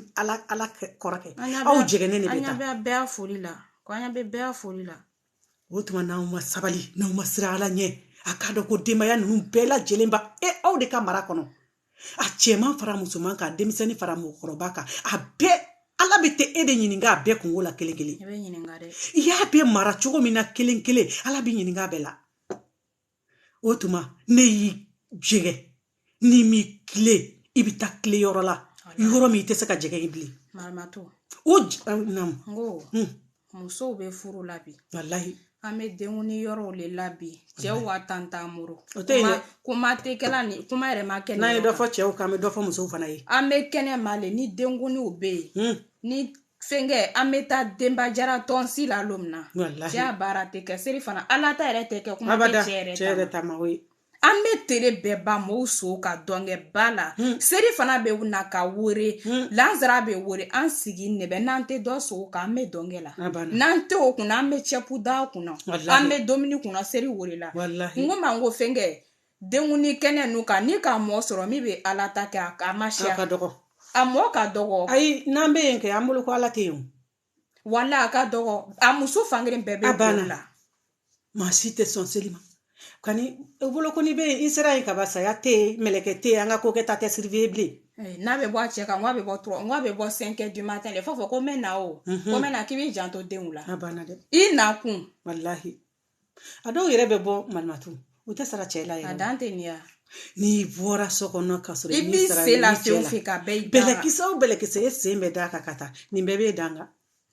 ala kɔrɔ kɛ aw jɛgɛnen de bɛ taa an ɲɛ bɛɛ foli la ko an ɲɛ bɛ bɛɛ foli la o tuma n'aw ma sabali n'aw ma siran ala ɲɛ a k'a dɔn ko denbaya ninnu bɛɛ lajɛlenba ye aw de ka mara kɔnɔ a cɛman fara musoman kan denmisɛnnin fara mɔgɔkɔrɔba kan a bɛɛ ala bɛ t'e de ɲininka a bɛɛ kunko la kelen kelen i y'a bɛɛ mara cogo min na kelen kelen ala bɛ ɲininka a bɛɛ la o tuma n'i y'i jɛgɛ n'i m'i kile i bɛ taa kile yɔrɔ la yɔrɔ min i tɛ se ka jɛgɛ yen bilen o musow bɛ furu la bi walahi an bɛ denkundi yɔrɔw le la bi cɛw ka tan t'an bolo o tɛ yen kuma tɛ kɛla ni kuma yɛrɛ ma kɛ n'an ye dɔ fɔ cɛw kan an bɛ dɔ fɔ musow fana ye an bɛ kɛnɛma le ni denkundiw bɛ yen ni fɛnkɛ an bɛ taa denba jara tɔnsi la don min na cɛya baara tɛ kɛ seri fana ala ta yɛrɛ tɛ kɛ kuma tɛ cɛ yɛrɛ ta ma o ye an bɛ tere bɛɛ ban mɔɔw so ka dɔnkɛ ba la hmm. seri fana bɛ na ka wore hmm. lansara bɛ wore an siginɛ bɛ n'an tɛ dɔ so kan an bɛ dɔnkɛ la n'an tɛ o kunna an bɛ cɛpu da kunna an bɛ dumuni kunna seri wore la n ko man ko fɛnkɛ denkuni kɛnɛ nu kan n'i ka mɔɔ sɔrɔ min bɛ ala ta kɛ a ma siya a mɔɔ ka dɔgɔ ayi n'an bɛ yen kɛ an bolo ko ala tɛ yen wala a ka dɔgɔ a muso fankelen bɛɛ bɛ ban a la maa si tɛ sɔn seli ma kani e bolo ko ni bɛ yen i sera yen kaba saya tɛ yen mɛlɛkɛ tɛ yen an ka ko kɛ ta tɛ siribe bilen eh, n'a bɛ bɔ a cɛ kan n'a bɛ bɔ trois n'a bɛ bɔ cinq du matin le fɔ fɔ ko n bɛ na o mhm. ko n bɛ na k'i b'i janto denw la a banna dɛ i nakun walahi a dɔw yɛrɛ bɛ bɔ manatu u tɛ sara cɛ la yɛrɛ a dan tɛ nin ya n'i bɔra so kɔnɔ ka sɔrɔ i b'i sen la fɛn o fɛn kan bɛɛ bɛlɛkisɛ o bɛlɛkisɛ e sen bɛ d'a kan ka taa nin bɛɛ b'e danga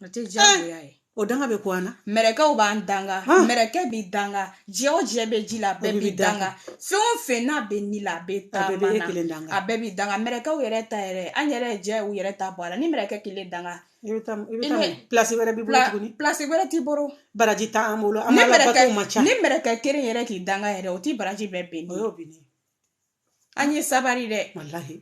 o tɛ diyagoya ye o danga bɛ ko an na mɛrɛkɛw b'an danga mɛrɛkɛ b'i danga jɛ o jɛ bɛ ji la a bɛɛ b'i danga fɛn o fɛn n'a bɛ ni la a bɛ taama bɛɛ b'e kelen danga a bɛɛ b'i danga mɛrɛkɛw yɛrɛ ta yɛrɛ an yɛrɛ jɛ u yɛrɛ ta bɔ a la ni mɛrɛkɛ kelen danga i bɛ taa i bɛ taa pilasi wɛrɛ b'i bolo tuguni pilasi wɛrɛ t'i bolo baraji t'an bolo an ka bato man ca ni mɛrɛkɛ kelen yɛrɛ k'i danga yɛrɛ o t'i baraji bɛɛ bin o y'o bin an ye sabari dɛ walahi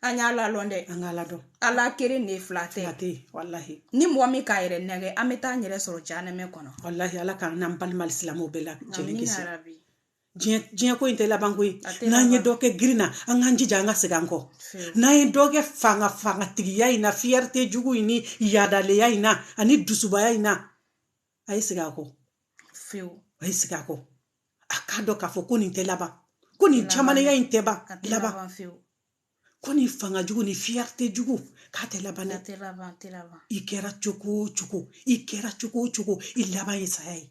an y'ala dɔn dɛ an k'ala dɔn ala kelen de ye fila tɛ a tɛ walahi ni mɔgɔ min k'a yɛrɛ nɛgɛn an bɛ taa an yɛrɛ sɔrɔ janɛmɛ kɔnɔ walahi ala k'an n'an balima silamɛw bɛɛ lajɛlen kisi diɲɛ ko in tɛ labanko ye n'an ye dɔ kɛ girin na an k'an jija an ka segin an kɔ n'an ye dɔ kɛ fanga fangatigiya in na fiyɛrite jugu in ni yaadaleya in na ani dusubaya in na a ye segin a kɔ fewu a ye segin a kɔ a k'a dɔn k'a fɔ ko nin tɛ laban ko nin kamalenya in tɛ ban laban ko nin fanga jugu ni fiyɛrite jugu k'a tɛ laban dɛ i kɛra cogo o cogo i kɛra cogo o cogo i laban ye saya ye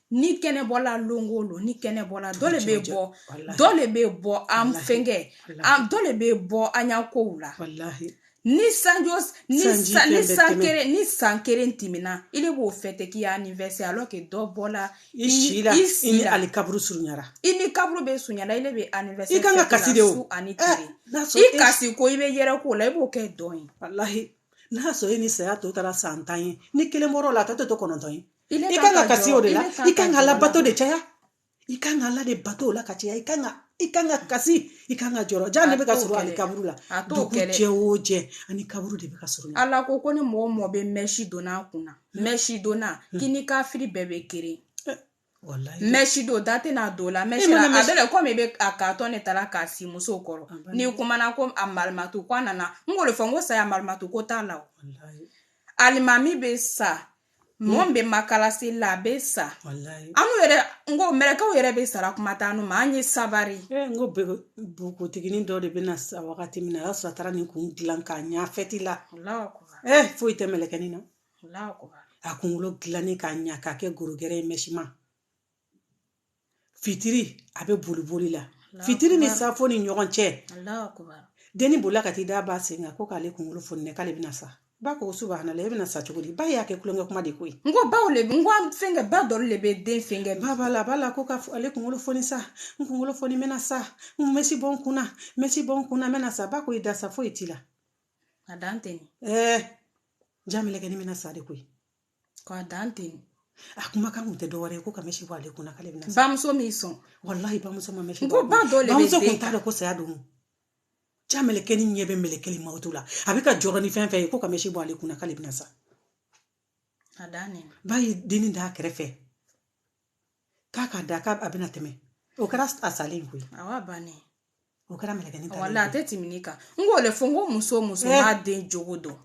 ni kɛnɛ bɔla lon o lon ni kɛnɛ bɔla dɔ le bɛ bɔ dɔ le bɛ bɔ an fɛnkɛ an dɔ le bɛ bɔ an ya kow la ni sanjo ni san ni san kelen ni san kelen tɛmɛna i le b'o fɛti k'i ya anniversaire alors que dɔ bɔla i si la i si la ali kaburu surunyara i ni kaburu bɛ surunyara i de bɛ anniversaire i kan ka kasi de o ani tile i kasi ko i bɛ yɛrɛ ko la i b'o kɛ dɔn ye walahi n'a sɔrɔ e ni saya tɔ taara san tan ye ni kelen bɔra a la a tɔ tɛ to kɔnɔntɔn ye i kan ka kasi o de la i kan ka ala bato de caya i kan ka ala de bato o la ka caya i kan ka i kan ka kasi i kan ka jɔrɔ ja ne bɛ ka sɔrɔ ani kaburu la dugu jɛ o jɛ an ni kaburu de bɛ ka sɔrɔ ala ko ko ni mɔgɔ mɔgɔ bɛ mɛsi donna a kunna mɛsi donna k'i ni kafiri bɛɛ bɛ kelen mɛsi don da tɛna don o la mɛsi la a bɛɛ la komi i bɛ a k'a tɔ ne taara k'a si musow kɔrɔ n'i kumana ko a marimatu ko a nana n k'o de fɔ n ko saya marimatu ko t'a la o alimami bɛ sa mɔgɔ min bɛ makalasi la a bɛ sa walayi annu yɛrɛ n ko mɛlɛkɛw yɛrɛ bɛ sara kuma t'annu ma an ye sabari e n ko bɛɛ bogotiginin dɔ de bɛna sa wagati min na a y'a sɔrɔ a taara nin kun dilan k'a ɲɛ fɛti la Alahu akubar, e foyi tɛ mɛlɛkɛnin na Alahu akubar. a kunkolo dilannen k'a ɲɛ k'a kɛ gorogɛrɛ ye mɛsiman fitiri a bɛ boli boli la fitiri ni safo ni ɲɔgɔn cɛ denni bolila ka t'i da ba sen kan ko k'ale kunkolo foni dɛ k'ale bɛna sa ba ko subahana e bɛna sa cogo di ba y'a kɛ tulonkɛ kuma de koyi n ko baw le n ko fɛnkɛ ba dɔ le bɛ den fɛnkɛ ba b'a la a b'a la ko ka ale kunkolo foni sa n kunkolo foni n bɛna sa n mɛsi bɔ n kunna mɛsi bɔ n kunna n bɛna sa ba ko i da sa foyi t'i la a dan tɛ ɛɛ ja mɛlɛkɛnin bɛna sa de koyi k'a dan ten a kuma kan kun tɛ dɔwɛrɛ ye ko ka mɛsi bɔ ale kunna k'ale bɛna bamuso ma sɔn walahi bamuso ma mɛsi ko ba dɔ le bamuso kun t'a dɔn ko saya don ja mɛlɛkɛnin ɲɛ bɛ mɛlɛkɛli mawutu la a bɛ ka jɔrɔ ni fɛn fɛn ye ko ka mɛsi bɔ ale kunna k'ale bɛna sa a dan ba ye denni d'a kɛrɛfɛ k'a k'a da k'a a bɛna tɛmɛ o kɛra a salen koyi awɔ a bannen o kɛra mɛlɛkɛnin ta wala a tɛ tɛmɛ nin kan n k'o le fɔ n ko muso muso eh. b'a den jogo dɔn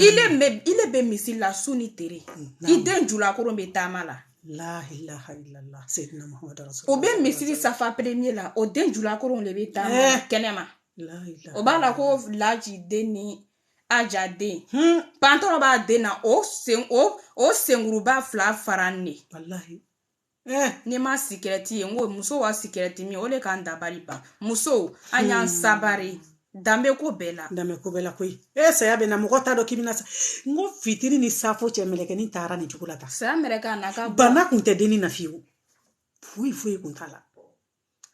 i le bɛ i le bɛ misiri la su ni tere i den julakoron bɛ taama la o bɛ misiri safa premier la o den julakoronw le bɛ taama eh. kɛnɛma o b'a la ko laji den ni aja den hmm, pantalon b'a den na o sen o o senkuruba fila faranen walahi eh. n'i ma sigarɛti ye n ko muso ya sigarɛti min o de k'an dabali ban musow an y'an hmm. sabari danbe ko bɛɛ la danbe ko bɛɛ la koyi e saya bɛ na mɔgɔ t'a dɔn k'i bɛna sa n ko fitiri ni safo cɛ mɛlɛkɛni taara nin cogo la tan saya mɛlɛkɛ a n'a ka bana kun tɛ denni na fiyewu foyi foyi kun t'a la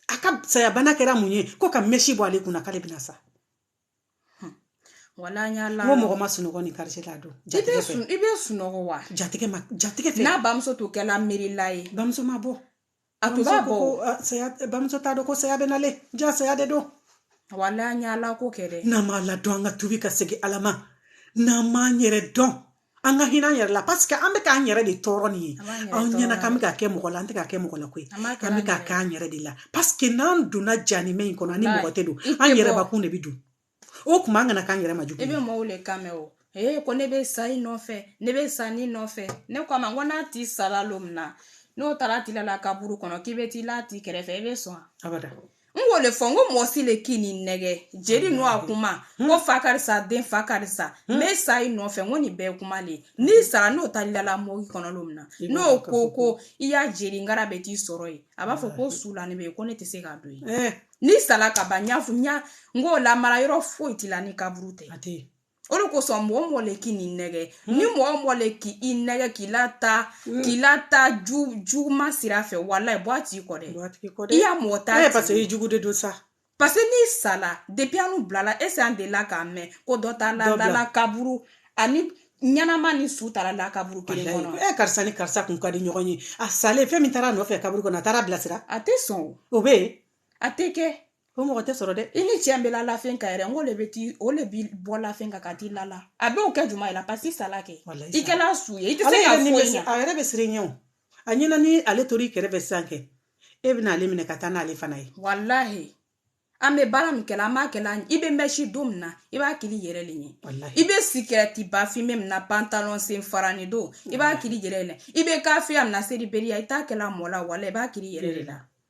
a ka sayabana kɛra mun ye ko ka mɛsi bɔ ale kunna k'ale bɛna sa wala an y'a la n ko mɔgɔ ma sunɔgɔ ni karisa la don jatigɛ fɛ i bɛ sunɔgɔ wa jatigɛ ma jatigɛ fɛ n'a bamuso tun kɛla miirila ye bamuso ma bɔ a tun b'a bɔ saya bamuso t'a dɔn ko saya bɛ na le ja saya de don wala an y'ala ko kɛ dɛ n'an m'ala dɔn an ka tubi ka segin ala ma n'an m'an yɛrɛ dɔn an ka hinɛ an yɛrɛ la paseke an bɛ k'an yɛrɛ de tɔɔrɔ nin ye an ɲɛna k'an bɛ k'a kɛ mɔgɔ la an tɛ k'a kɛ mɔgɔ la koyi an bɛ k'a kɛ an yɛrɛ de la paseke n'an donna janimɛ in kɔnɔ an ni mɔgɔ tɛ don an yɛrɛbakun de bɛ don o tuma an kana k'an yɛrɛ ma jugu i bɛ mɔgɔw de kan mɛn o ee ko ne bɛ sa i nɔfɛ ne bɛ sa ni nɔfɛ ne ko a ma ko n'a ti sara don min na n'o taara ti lala kaburu kɔnɔ k'i bɛ t'i l'a ti kɛrɛfɛ i bɛ sɔn abada n k'o le fɔ n ko mɔgɔ si le kan'i nɛgɛ jeli n'o a kuma n ko fa karisa den fa karisa n bɛ sa i nɔfɛ n ko nin bɛɛ kuma le ye n'i sara n'o taal'i lala morgue kɔnɔ lon min na n'o ko ko i ya jeli ngara bɛ t'i sɔrɔ yen a b'a fɔ ko su lanin bɛ yen ko ne tɛ se ka don yen n'i sara ka ban n y'a fɔ n y'a n k'o lamara yɔrɔ foyi t'i la ni kaburu tɛ a tɛ yen o le kosɔn mɔgɔ mɔgɔ le kan'i nɛgɛ hmm. ni mɔgɔ o mɔgɔ le k'i nɛgɛ k'i lataa hmm. k'i lataa ju juguma sira fɛ walayi bɔ a ti kɔ dɛ i ya mɔgɔ t'a ye, parce que i jugu de don sa parce que n'i sala depuis an n'u bilala ese an delila k'a mɛn ko dɔ ta ladala kaburu ani ɲɛnama ni su taara la kaburu kelen kɔnɔ ɛ eh, karisa ni karisa tun ka di ɲɔgɔn ye a salen fɛn min taara a nɔfɛ kaburu kɔnɔ a taara a bilasira a tɛ sɔn o bɛ yen a tɛ kɛ o mɔgɔ tɛ sɔrɔ dɛ i ni cɛ bɛ la lafɛn kan yɛrɛ n ko de bɛ ti o de b'i bɔ lafɛn kan ka t'i lala a b'o kɛ juma ye la pasi i sala kɛ i kɛla su ye i tɛ se ka foyi ɲɛ a yɛrɛ bɛ siran i ɲɛ o a ɲɛna ni ale tora i kɛrɛfɛ sisan kɛ e bɛna ale minɛ ka taa n'ale fana ye walahi an bɛ baara min kɛla an b'a kɛla i bɛ mɛsi don min na i b'a kɛl'i yɛrɛ le ɲɛ i bɛ sikɛrɛti bafin bɛ min na pantalon sen farani don i b'a kɛl'i yɛrɛ le i bɛ kafiriya min na seribaliya i t'a kɛla mɔɔ la wala i b'a kɛl'i yɛrɛ de la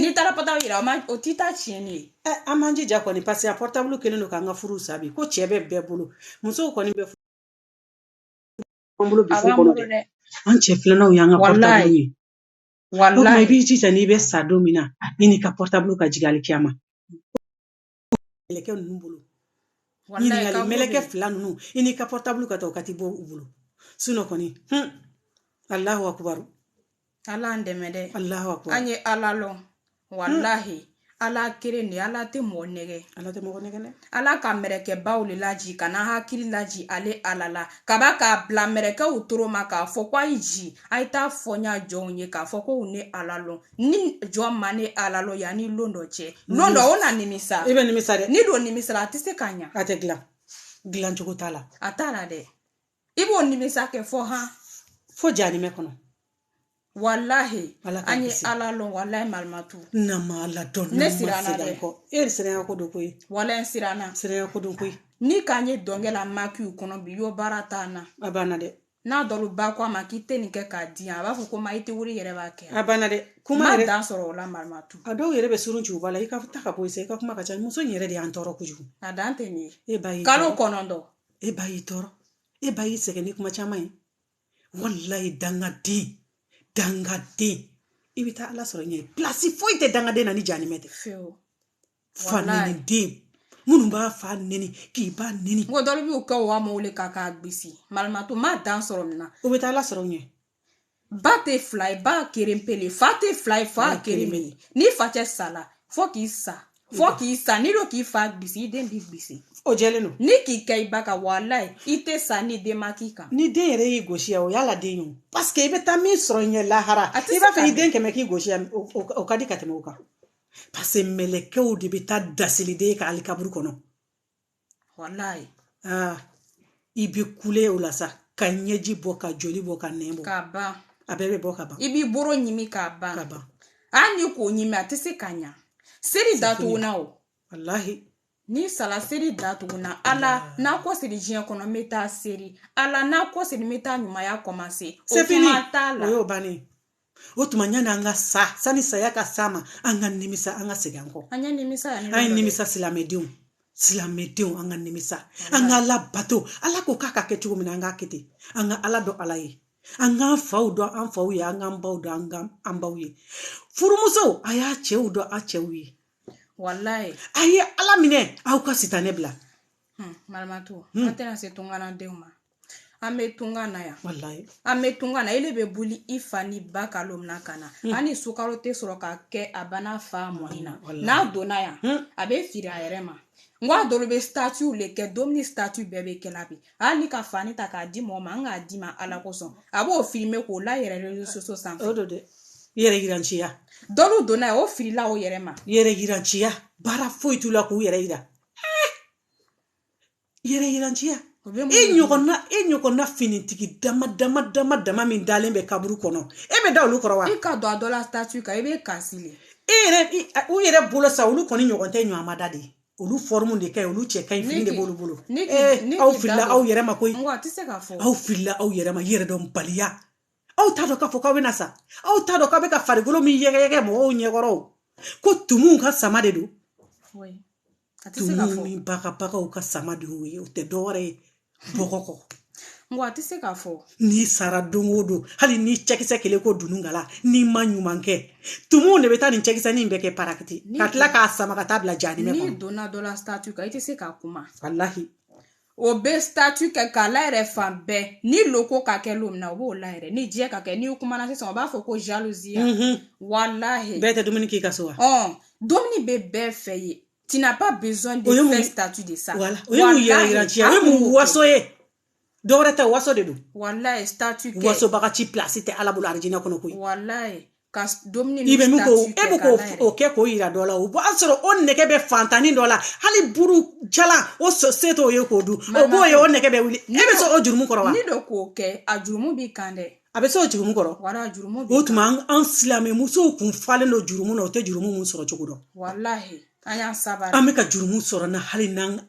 n'i taara pɔtabulu yira o ma o t'i ta tiɲɛ ne ye ɛ an m'an jija kɔni paseke a pɔtabulu kɛlen don k'an ka furu sa bi ko cɛ bɛ bɛɛ bolo musow kɔni bɛ an bolo bi furu kɔnɔ dɛ an cɛ filananw y'an ka pɔtabulu ye o tuma i b'i jija n'i bɛ sa don min na i n'i ka pɔtabulu ka jigin alikiyama mɛlɛkɛ ninnu bolo ɲininkali mɛlɛkɛ fila ninnu i n'i ka pɔrɔtabulu ka taa o ka t'i bɔ u bolo sinon kɔni hun alahu akubaru ala an dɛmɛ dɛ alahu akubaru an ye ala lɔn walahi hmm. ala keren de ala tɛ mɔgɔ nɛgɛ ala tɛ mɔgɔ nɛgɛ dɛ ala ka mɛrɛkɛbaw le laji ka na hakili laji ale ala la kaba k'a bila mɛrɛkɛw toro ma k'a fɔ ko a ye ji a ye t'a fɔ n ya jɔnw ye k'a fɔ ko u ne ala lɔn ni jɔn ma ne ala lɔn yanni lon dɔ cɛ lon dɔ o na nimisa i bɛ nimisa dɛ ni don nimisala a tɛ se ka ɲa a tɛ dilan dilan cogo t'a la a t'a la dɛ i b'o nimisa kɛ fo han fo janimɛ kɔnɔ walahi an ye ala lɔn walahi marimatu n'an ma ala dɔn ne siranna dɛ kɔ e de siranya ko don koyi walahi siranna siranya ko don koyi ni k'an ye dɔnkɛ la makiw kɔnɔ bi y'o baara t'an na a banna dɛ n'a dɔw ba ko a ma k'i tɛ nin kɛ k'a di yan a b'a fɔ ko ma i tɛ wuli yɛrɛ b'a kɛ a banna dɛ kuma ma yɛrɛ dan sɔrɔ o la marimatu a dɔw yɛrɛ bɛ surun ci u ba la i ka ta ka bɔ i sa i ka kuma ka ca muso in yɛrɛ de y'an tɔɔrɔ kojugu a dan tɛ nin ye e ba y'i kalo kɔnɔntɔn e ba y'i tɔɔrɔ e ba y'i sɛgɛn ni kuma caman ye walayi dangaden dangaden i bɛ taa ala sɔrɔ ɲɛ pilasi foyi tɛ dangaden na ni janimɛ tɛ fa neni den minnu b'a fa neni k'i ba neni ko dɔ bɛ y'u kɛ wa mɔw wele ka k'a gbisi marimatu ma dan sɔrɔ nin na o bɛ taa ala sɔrɔ ɲɛ ba tɛ fila ye ba keren pele fa tɛ fila ye fa keren pele ni fa cɛ sala fo k'i sa fo k'i sa n'i do k'i fa gbisi i den b'i gbisi o jɛlen don ni k'i kɛ i ba ka walayi i tɛ sa ni den ma k'i kan ni den yɛrɛ y'i gosi yan o y'ala den ye o parce que i bɛ taa min sɔrɔ ɲɛ lahara a tɛ i b'a fɛ ka i den kɛmɛ k'i gosi yan o- o o ka di ka tɛmɛ o kan parce que mɛlɛkɛw de bɛ taa dasiliden ye ka alikaburu kɔnɔ walayi aa i bɛ kule o la sa ka ɲɛji bɔ ka joli bɔ ka nɛn bɔ k'a ban a bɛɛ bɛ bɔ ka ban i b'i boro ɲimi k'a ban ka ban hali ni k'o ɲimi a tɛ se ka ɲa seri datugunna o walahi ni sala seri datugunna ala n nakɔsegin diɲɛ kɔnɔ n bɛ taa seri ala n nakɔsegin n bɛ taa ɲumanya kɔmanse o kuma t'a la o y'o bannen o tuma yanni an ka sa sani saya ka s'an ma an ka nimisa an ka segin an kɔ an ye nimisa an ye nimisa silamɛdenw silamɛdenw an ka nimisa an ka ala bato ala ko k'a ka kɛ cogo min na an k'a kɛ ten an ka ala dɔn ala ye an k'an faw dɔn an faw ye an k'an baw dɔn an baw ye furumusow a y'a cɛw dɔn a cɛw ye walayi a ye ala minɛ aw ka sitanɛ bila hmm, marimatu hmm. an tɛna se tunkarandenw ma an bɛ tunga na yan an bɛ tunga na ele bɛ boli i fa ni ba kalo min na ka na hali sukaro tɛ sɔrɔ ka kɛ a ba n'a fa mɔni na n'a donna yan a bɛ firi a yɛrɛ ma n ko a dɔlu bɛ statut le kɛ domuni statut bɛɛ bɛ kɛla bi hali ni ka fani ta k'a di mɔgɔ ma an k'a d'i ma ala kosɔn a b'o filmer k'o la yɛrɛ réseaux sociaux sanfɛ yɛrɛ yiranciya dɔlu donna yan o firila o yɛrɛ ma yɛrɛ yiranciya baara foyi t'u la k'u yɛrɛ yira yɛrɛ yiranciya e ɲɔgɔnna e ɲɔgɔnna finitigi dama dama dama dama min dalen bɛ kaburu kɔnɔ e bɛ da olu kɔrɔ wa i ka don a dɔ la statut kan i bɛ kasi le e yɛrɛ u yɛrɛ bolo sa olu kɔni ɲɔgɔn tɛ ɲɔgɔn ma da de olu fɔrimu de ka ɲi olu cɛ ka ɲi fini de b'olu bolo aw filila aw yɛrɛ ma koyi aw filila aw yɛrɛ ma yɛrɛ dɔn baliya aw t'a dɔn k'a fɔ k'aw bɛna sa aw t'a dɔn k'aw bɛ ka farikolo min yɛgɛyɛgɛ mɔgɔw ɲɛkɔrɔ ko tumuw ka sama de don tumuw ni bagabagaw ka sama de y'o ye o tɛ dɔwɛrɛ ye bɔgɔ kɔ nka a tɛ se k'a fɔ n'i sara don o don hali n'i cɛkisɛ kɛlen ko dununkala n'i ma ɲuman kɛ tumuw de bɛ taa nin cɛkisɛ nin bɛɛ kɛ parakiti ka tila k'a sama ka t'a bila jahanama kɔnɔ n'i donna dɔ la statut kan i tɛ se ka kuma walahi o bɛ statut kɛ k'a layɛrɛ fan bɛɛ ni loko ka kɛ lon min na o b'o layɛrɛ ni diɲɛ ka kɛ n'i kumana sisan o b'a fɔ ko jalousie mhm. walahi bɛɛ tɛ dumuni k'i ka so wa dumuni bɛ bɛɛ fɛ yen tu n'as pas besoin de faire statut de ça voilà o ye mun yɛrɛ yiranciya o ye mun waso ye dɔwɛrɛ tɛ waso de don walayi statut kɛ wasobaga si place tɛ ala bolo arijinɛ kɔnɔ koyi walayi ka dumuni i bɛ min ko e bɛ k'o o kɛ k'o yira dɔ la o b'a sɔrɔ o nɛgɛ bɛ fantanni dɔ la hali buru jalan o se t'o ye k'o dun o b'o ye o nɛgɛ bɛ wuli e bɛ se o jurumu kɔrɔ wa ni dɔ k'o kɛ a jurumu b'i kan dɛ a bɛ se o jurumu kɔrɔ wala a jurumu b'i kan o tuma an silamɛ musow kun falen don jurumu na o tɛ jurumu mun sɔrɔ cogo dɔn walahi an y'an sabari an bɛ ka jurumu sɔrɔ na hali n'an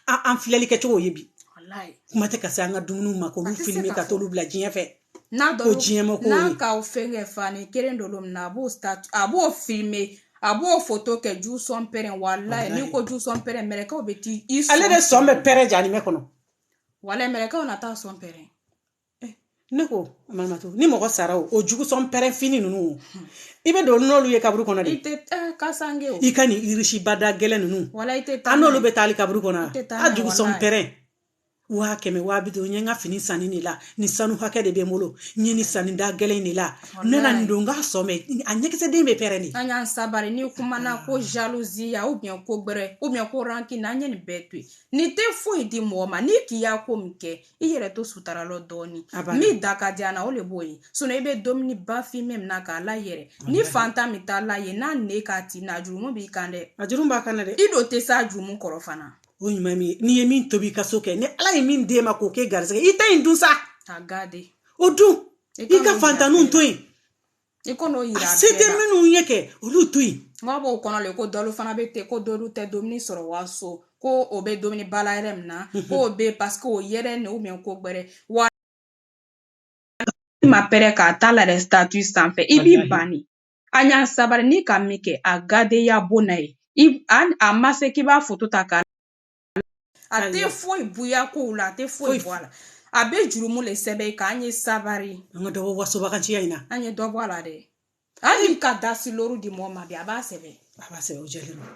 an filɛli kɛcogo ye bi walahi kuma tɛ ka se an ka dumuniw ma k'olu filime ka t'olu bila diɲɛ fɛ n'a ko diɲɛ ma ko n'a ka fɛn kɛ fani kelen don lon min na a b'o ta a b'o filime a b'o foto kɛ ju sɔn pɛrɛn walayi n'i ko ju sɔn pɛrɛn mɛrɛkaw bɛ t'i sɔn ale de sɔn bɛ pɛrɛn jahanama kɔnɔ walayi mɛrɛkaw na t'a sɔn pɛrɛn eh, ne ko mamatu ni mɔgɔ sara o o jugu sɔn pɛrɛn fini ninnu hmm. i bɛ don n'olu ye kaburu kɔnɔ de i tɛ eh, kasanke o i ka nin irisiba da gɛlɛn ninnu wala i tɛ taa an n'olu bɛ taa le kaburu kɔnɔ a jugu sɔn pɛrɛn waa kɛmɛ waa bi duuru n ye n ka fini san nin de la nin sanu hakɛ de bɛ n bolo n ye nin san nin da gɛlɛn de la ne na nin don n k'a sɔn mɛ a ɲɛkisɛden bɛ pɛrɛn de an y'an sabari n'i kumana ko jalousie ou bien ko gbɛrɛ ou bien ko rancune an ye nin bɛɛ to yen nin tɛ foyi di mɔgɔ ma n'i k'i y'a ko min kɛ i yɛrɛ to sutara lɔ dɔɔni min da ka di an na o de b'o ye sinon i bɛ dumuniba filime min na k'a layɛrɛ ni fantan min t'a la ye n'a ne k'a ti na jurumu b'i kan dɛ a jurumu b'a kan dɛ i dun tɛ s'a jurumu kɔrɔ fana o ɲuman min n'i ye min tobi i ka so kɛ ni ala ye min d'e ma k'o kɛ garisɛgɛ i ta in dun sa a gade o dun i ka fantanniw to yen i kan'o yira a se tɛ minnu ye kɛ olu to yen n b'a b'o kɔnɔ le ko dɔlu fana bɛ ten ko dɔlu tɛ dumuni sɔrɔ waso ko o bɛ dumuniba layɛrɛ min na mhm. ko o bɛ parce que o yɛrɛ ne ou bien ko gbɛrɛ wa ma pɛrɛ k'a ta la dɛ statut sanfɛ i b'i ban de a y'a sabari ni ka min kɛ a gadenya bon na ye a ma se k'i b'a foto ta k'a a tɛ foyi bonya kow la a tɛ foyi bɔ a la a bɛ jurumu le sɛbɛn i kan an ye sabari an ka dɔ bɔ wasobaganciya in na an ye dɔ bɔ a la dɛ hali ka dasi loru di mɔgɔ ma bi a b'a sɛbɛn a b'a sɛbɛn o jɛlen don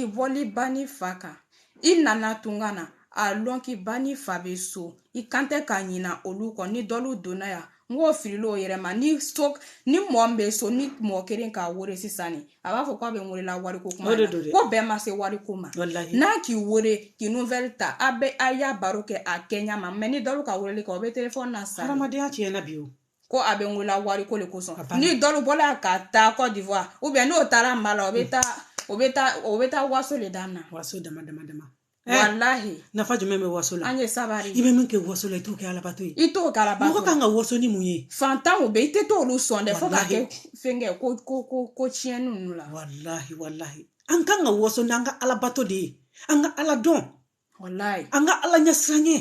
i bɔli ba ni fa kan i nana tunga na a lɔn k'i ba ni fa bɛ so i kan tɛ ka ɲina olu kɔ ni dɔlu donna yan n k'o filila o yɛrɛ ma ni so ni mɔɔ min bɛ so ni mɔɔ kelen k'a wele sisan ni a b'a fɔ k'a bɛ n welela wariko kuma na ko bɛɛ ma se wariko ma n'a k'i wele k'i nouvelle ta a bɛ a y'a baro kɛ a kɛɲɛ ma mɛ ni dɔlu ka weleli kɛ o bɛ telefɔni na sa hadamadenya tiɲɛna bi o ko a bɛ n welela wariko le kosɔn ni dɔlu bɔla ka taa kɔdiwari ubiyɛn n'o taara mali la o bɛ taa o bɛ taa o bɛ taa waso le daminɛ waso dama dama dama walahi nafa jumɛn bɛ waso la an ye sabari i bɛ min kɛ waso la i t'o kɛ alabato ye i t'o kɛ alabato mɔgɔ kan ka waso ni mun ye fantanw bɛ i tɛ t'olu sɔn dɛ fo ka kɛ fɛnkɛ ko ko ko ko tiɲɛni ninnu la walahi walahi an kan ka waso n'an ka alabato de ye an ka ala dɔn walahi an ka ala ɲɛsiranɲɛ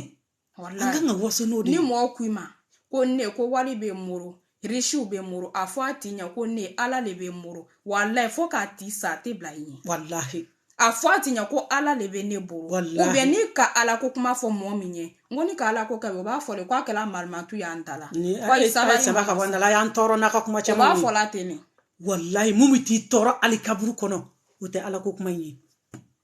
an ka kan ka waso n'o de ye ni mɔgɔ ko i ma ko ne ko wari bɛ n bolo risiw bɛ n bolo a fɔ a ti ɲɛ ko ne ala le bɛ n bolo walayi fo k'a ti sa a tɛ bila i ɲɛ walahi a fɔ a ti ɲɛ ko ala le bɛ ne bolo walahi ubiyɛn ni ka ala ko kuma fɔ mɔgɔ min ye n ko ni ka ala ko kɛ o b'a fɔ de k'a kɛra malimatu y'an ta la ni ala ye saba saba ka bɔ an da la y'an tɔɔrɔ n'a ka kuma caman o b'a fɔ la ten ne walayi mun bɛ t'i tɔɔrɔ alikaburu kɔnɔ o tɛ ala ko kuma in ye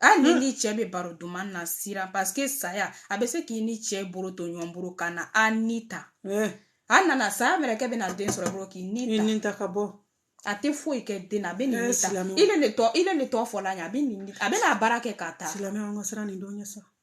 hali ni ni cɛ bɛ baro duman na siran paseke saya a bɛ se k'i ni cɛ bolo to ɲɔgɔn bolo ka na a ni ta a nana saya mɛrɛkɛ bɛna den sɔrɔ bolo k'i ni ta ni ta ka bɔ a tɛ foyi kɛ den na a bɛ ni ta i le tɔ i le tɔ fɔla a ɲɛ a bɛ nin a bɛ n'a baara kɛ ka taa silamɛ an ka siran nin don ɲɛ sa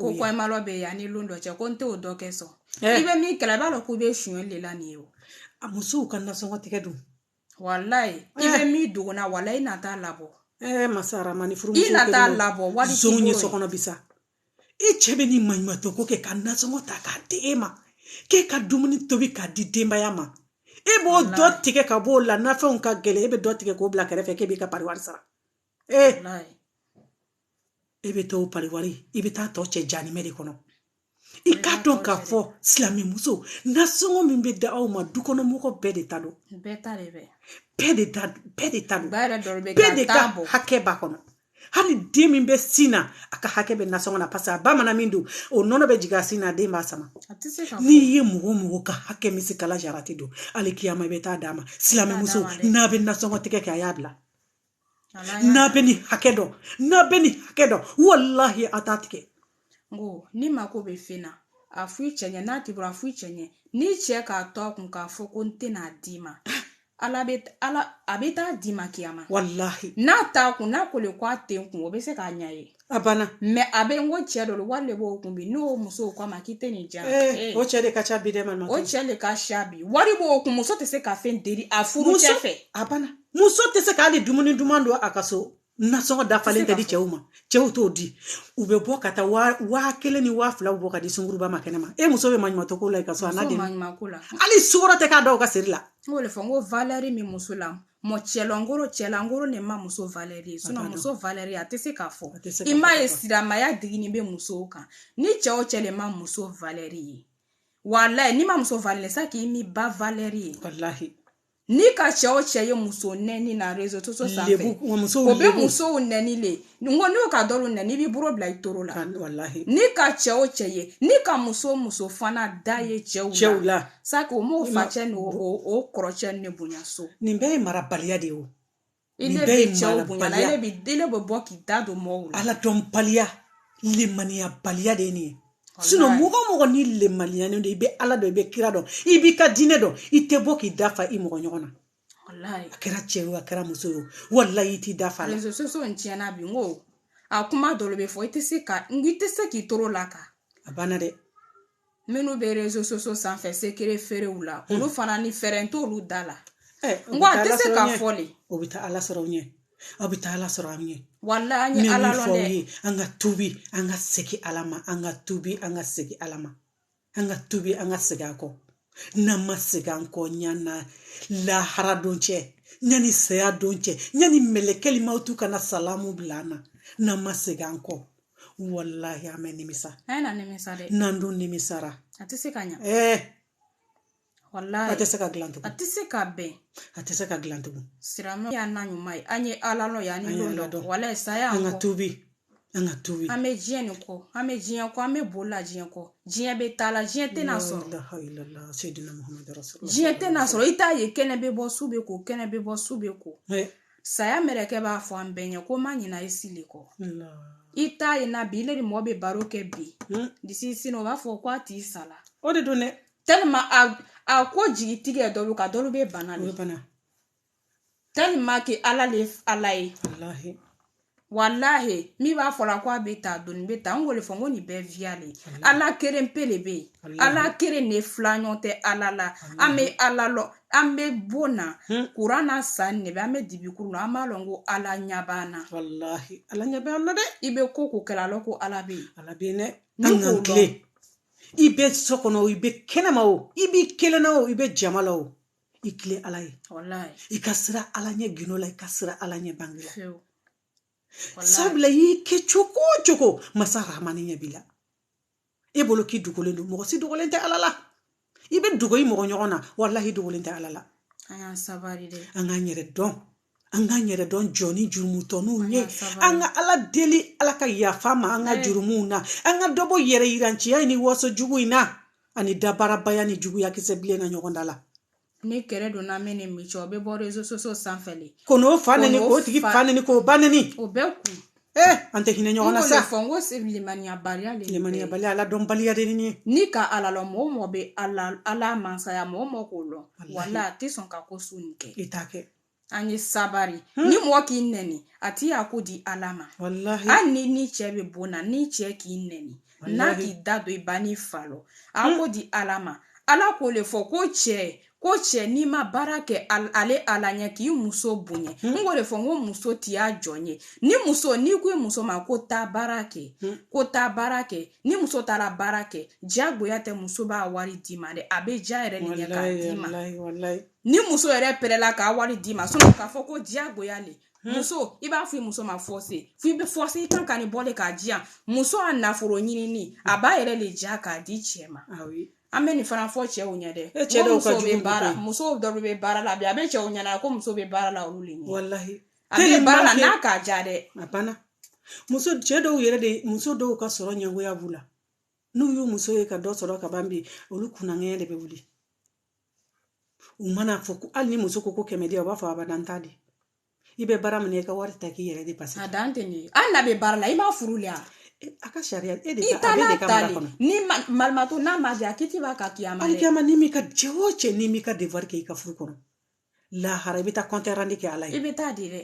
ko kɔmalɔ bɛ yan ni lon dɔ cɛ ko n t'o dɔ kɛ son i bɛ min kɛla i b'a dɔn k'u bɛ suɲɛ de la nin ye o a musow ka nasɔngɔ tigɛ don walayi i bɛ min dogo na walayi i na t'a labɔ ɛɛ masara ma ni furu i na t'a labɔ walayi sonw ye so kɔnɔ bi sa i cɛ bɛ ni maɲumatɔ ko kɛ ka nasɔngɔ ta k'a di e ma k'e ka dumuni tobi k'a di denbaya ma e b'o dɔ tigɛ ka b'o la nafɛnw ka gɛlɛn e bɛ dɔ tigɛ k'o bila kɛrɛfɛ k'e b'i ka pariwari sara ee e bɛ taa o pariwari i bɛ taa tɔ cɛ janimɛ de kɔnɔ i k'a dɔn k'a fɔ silamɛmuso nasɔngɔ min bɛ da aw ma dukɔnɔmɔgɔ bɛɛ de ta don bɛɛ ta de bɛɛ bɛɛ de ta bɛɛ de ta don bɛɛ de ka hakɛ b'a kɔnɔ hali den min bɛ sin na a ka hakɛ bɛ nasɔngɔ na paseke a ba mana min dun o nɔnɔ bɛ jigin a sin na den b'a sama n'i ye mɔgɔ mɔgɔ ka hakɛ misikala jarati dun alikiyama i bɛ taa d'a ma silamɛmuso n'a bɛ nasɔngɔ tigɛ kɛ a y'a bila n'a bɛ nin hakɛ dɔn n'a bɛ nin hakɛ dɔn walahi a t'a tigɛ n ko n'i mako bɛ fɛn na a f'i cɛ ɲɛ n'a t'i bolo a f'i cɛ ɲɛ n'i cɛ k'a to a kun k'a fɔ ko n tɛn'a d'i ma ala bɛ ala a bɛ taa d'i ma kiyama walahi n'a t'a kun n'a ko le ko a tɛ n kun o bɛ se k'a ɲɛ ye A banna mɛ a bɛ n ko cɛ dɔ wari de b'o kun bi n'o muso k'a ma k'i tɛ nin di yan o cɛ de ka ca bi dɛ ma o cɛ de ka ca bi wari b'o kun muso tɛ se ka fɛn deli a furu cɛ fɛ a banna muso tɛ se ka hali dumuni duman dun a ka so nasɔngɔ dafalen tɛ di cɛw ma cɛw t'o di u bɛ bɔ ka taa waa kelen ni waa fila bɔ ka di sunguruba ma kɛnɛ ma e muso bɛ maɲumatɔ ko la i ka so hali sukɔrɔ tɛ k'a da ka seri la n k'o de fɔ n ko valɛri min muso la mɔ cɛlankoro cɛlankoro ne ma muso valɛri ye sinɔn muso valɛri a tɛ se k'a fɔ i m'a ye silamaya digini bɛ musow kan ni cɛ o cɛ le ma muso valɛri ye walayi n'i ma muso valɛri sa k'i m'i ba valɛri ye walahi n'i ka cɛ o cɛ ye muso nɛni na rezo soso sanfɛ o bɛ musow nɛni le n ko n'o ka dɔlu nɛni i b'i bolo bila i toro la n'i ka cɛ o cɛ ye n'i ka muso o muso fana da ye cɛw cɛw la sa k'o m'o facɛ n'o kɔrɔcɛ ne bonya so nin bɛɛ ye marabaliya de ye o i ne bɛ cɛw bonya la ne bɛ ile bɛ bɔ k'i da don mɔgɔw la ala dɔnbaliya limaniyabaliya de ye nin ye sinɔn mɔgɔ o mɔgɔ n'i lemaniyanen don i bɛ ala dɔn i bɛ kira dɔn i b'i ka diinɛ dɔn i tɛ bɔ k'i da fa i mɔgɔ ɲɔgɔn na walayi a kɛra cɛ ye a kɛra muso ye walayi i t'i da fa la rezo soso tiɲɛna bi n ko a kuma dɔ bɛ fɔ i tɛ se ka n i tɛ se k'i toro l'a kan a banna dɛ minnu bɛ rezo soso sanfɛ sekere feerew la hmm. olu fana ni fɛrɛn t'olu da la eh, n ko a tɛ se ka fɔ de o bɛ taa ala sɔrɔ ɲɛ aw bɛ taa ala sɔrɔ an ɲɛ walayi an ye ala lɔn dɛ an ka tubi an ka segin ala ma an ka tubi an ka segin ala ma an ka tubi an ka segin an kɔ n'an ma segin an kɔ ɲani lahara don cɛ ɲani saya don cɛ ɲani mɛlɛkɛli mawutu ka na salamu bila an na n'an ma segin an kɔ walahi an bɛ nimisa n'an dun nimisara a tɛ se ka ɲa ɛɛ wallahi a tɛ se ka dilan tugun a tɛ se ka bɛn a tɛ se ka dilan tugun silamɛ y'a na ɲuman ye an ye ala lɔ ye an ye lɔ dɔn wallahi saya an ka tubi an ka tubi an bɛ diɲɛ nin kɔ an bɛ diɲɛ kɔ an bɛ boli la diɲɛ kɔ diɲɛ bɛ taa la diɲɛ tɛna sɔrɔ diɲɛ tɛna sɔrɔ i t'a ye kɛnɛ bɛ bɔ su bɛ ko kɛnɛ bɛ bɔ su bɛ ko saya mɛrɛkɛ b'a fɔ an bɛɛ ɲɛ ko n ma ɲina i si le kɔ i t'a ye na bi ile ni mɔgɔ bɛ baro kɛ bi disi sini o b'a fɔ ko a tigi sala o de don dɛ tellement a a ko jigi tigɛ dɔlu ka dɔlu bɛ bana de bana tellement que ala le ala ye walahi walahi min b'a fɔla ko a bɛ ta doni bɛ ta n k'o le fɔ n ko nin bɛɛ viya le ala keren pe le bɛ yen ala keren ne filaɲɔgɔn tɛ ala la an bɛ ala lɔ an bɛ bon na kuran na san ne bɛ an bɛ dibi kuru la an b'a lɔn ko ala ɲɛ b'an na walahi ala ɲɛ b'an na dɛ i bɛ ko ko kɛla a lɔn ko ala bɛ yen ala bɛ yen dɛ an k'an tilen i bɛ so kɔnɔ o i bɛ kɛnɛma o i b'i kelenna o i bɛ jama la o i tilen ala ye i ka siran ala ɲɛ gundo la i ka siran ala ɲɛ bange la sabula y'i kɛ cogo o cogo masa rahamani ɲɛ b'i la e bolo k'i dogolen don mɔgɔ si dogolen tɛ ala la i bɛ dogo i mɔgɔ ɲɔgɔn na walahi dogolen tɛ ala la an y'an sabali dɛ an k'an yɛrɛ dɔn an k'an yɛrɛ dɔn jɔnnin jurumutɔninw ye an ka ala deli ala ka yafa an ma an ka jurumuw na an ka dɔ bɔ yɛrɛ yiranciya ni waso jugu in na ani dabarabaya ni juguya kisɛ bilen na ɲɔgɔn da la ni kɛlɛ donna min ni min cɛ o bɛ bɔ réseaux sociaux sanfɛ de ko n'o fa neni k'o tigi fa neni k'o ba neni o bɛɛ kun ee an tɛ hinɛ ɲɔgɔn na sa fɔ n ko c'est limaniyabaliya le limaniyabaliya ala dɔnbaliya de ni n'i ka ala lɔ mɔgɔ mɔgɔ bɛ ala ala mansaya mɔgɔ mɔgɔ k'o lɔ wala a tɛ sɔn ka ko su nin kɛ i t'a kɛ an ye sabari ni mɔgɔ k'i nɛni a t'i y'a ko di ala ma walahi hali ni ni cɛ bɛ bon na ni cɛ k'i nɛni n'a k'i da don i ba n'i fa lɔ a ko di ala ma ala k'o le fɔ ko cɛ ko cɛ n'i ma baara kɛ ale ala ɲɛ k'i muso bonya n k'o de fɔ n ko muso t'i ya jɔn ye ni muso n'i ko i muso ma ko taa baara kɛ ko taa baara kɛ ni muso taara baara kɛ diyagoya tɛ muso b'a wari d'i ma dɛ a bɛ diya yɛrɛ de ɲɛ k'a d'i ma ni muso yɛrɛ pɛrɛla k'a wari d'i ma sinon k'a fɔ ko diyagoya le muso i b'a fɔ i muso ma forcer fo i bɛ forcer i kan ka nin bɔ de k'a diya muso a nafolo ɲinini a b'a yɛrɛ de diya k'a di cɛ ma an bɛ nin fana fɔ cɛw ɲɛ dɛ e cɛ dɔw ka jugu baara muso dɔw bɛ baara la bi a bɛ cɛw ɲɛna ko muso bɛ baara la olu de ɲɛ walahi a bɛ baara la n'a k'a ja dɛ a banna muso cɛ dɔw yɛrɛ de muso dɔw ka sɔrɔ ɲɛgoya b'u la n'u y'u muso ye ka dɔ sɔrɔ ka ban bi olu kunnaŋɛɲɛ de bɛ wuli u mana fɔ ko hali ni muso ko ko kɛmɛ di u b'a fɔ abada n t'a di i bɛ baara min na i ka wari ta k'i yɛrɛ dépenser a dan tɛ nin ye hali n'a bɛ baara la i m'a furu le a ka sariya e de i ka ale de ka mara kɔnɔ ni malimato n'a ma diya kiti b'a ka kiyama hali kiyama n'i m'i ka cɛ o cɛ n'i m'i ka devoir kɛ i ka furu kɔnɔ lahara i bɛ taa compte rendu kɛ ala ye i bɛ taa di dɛ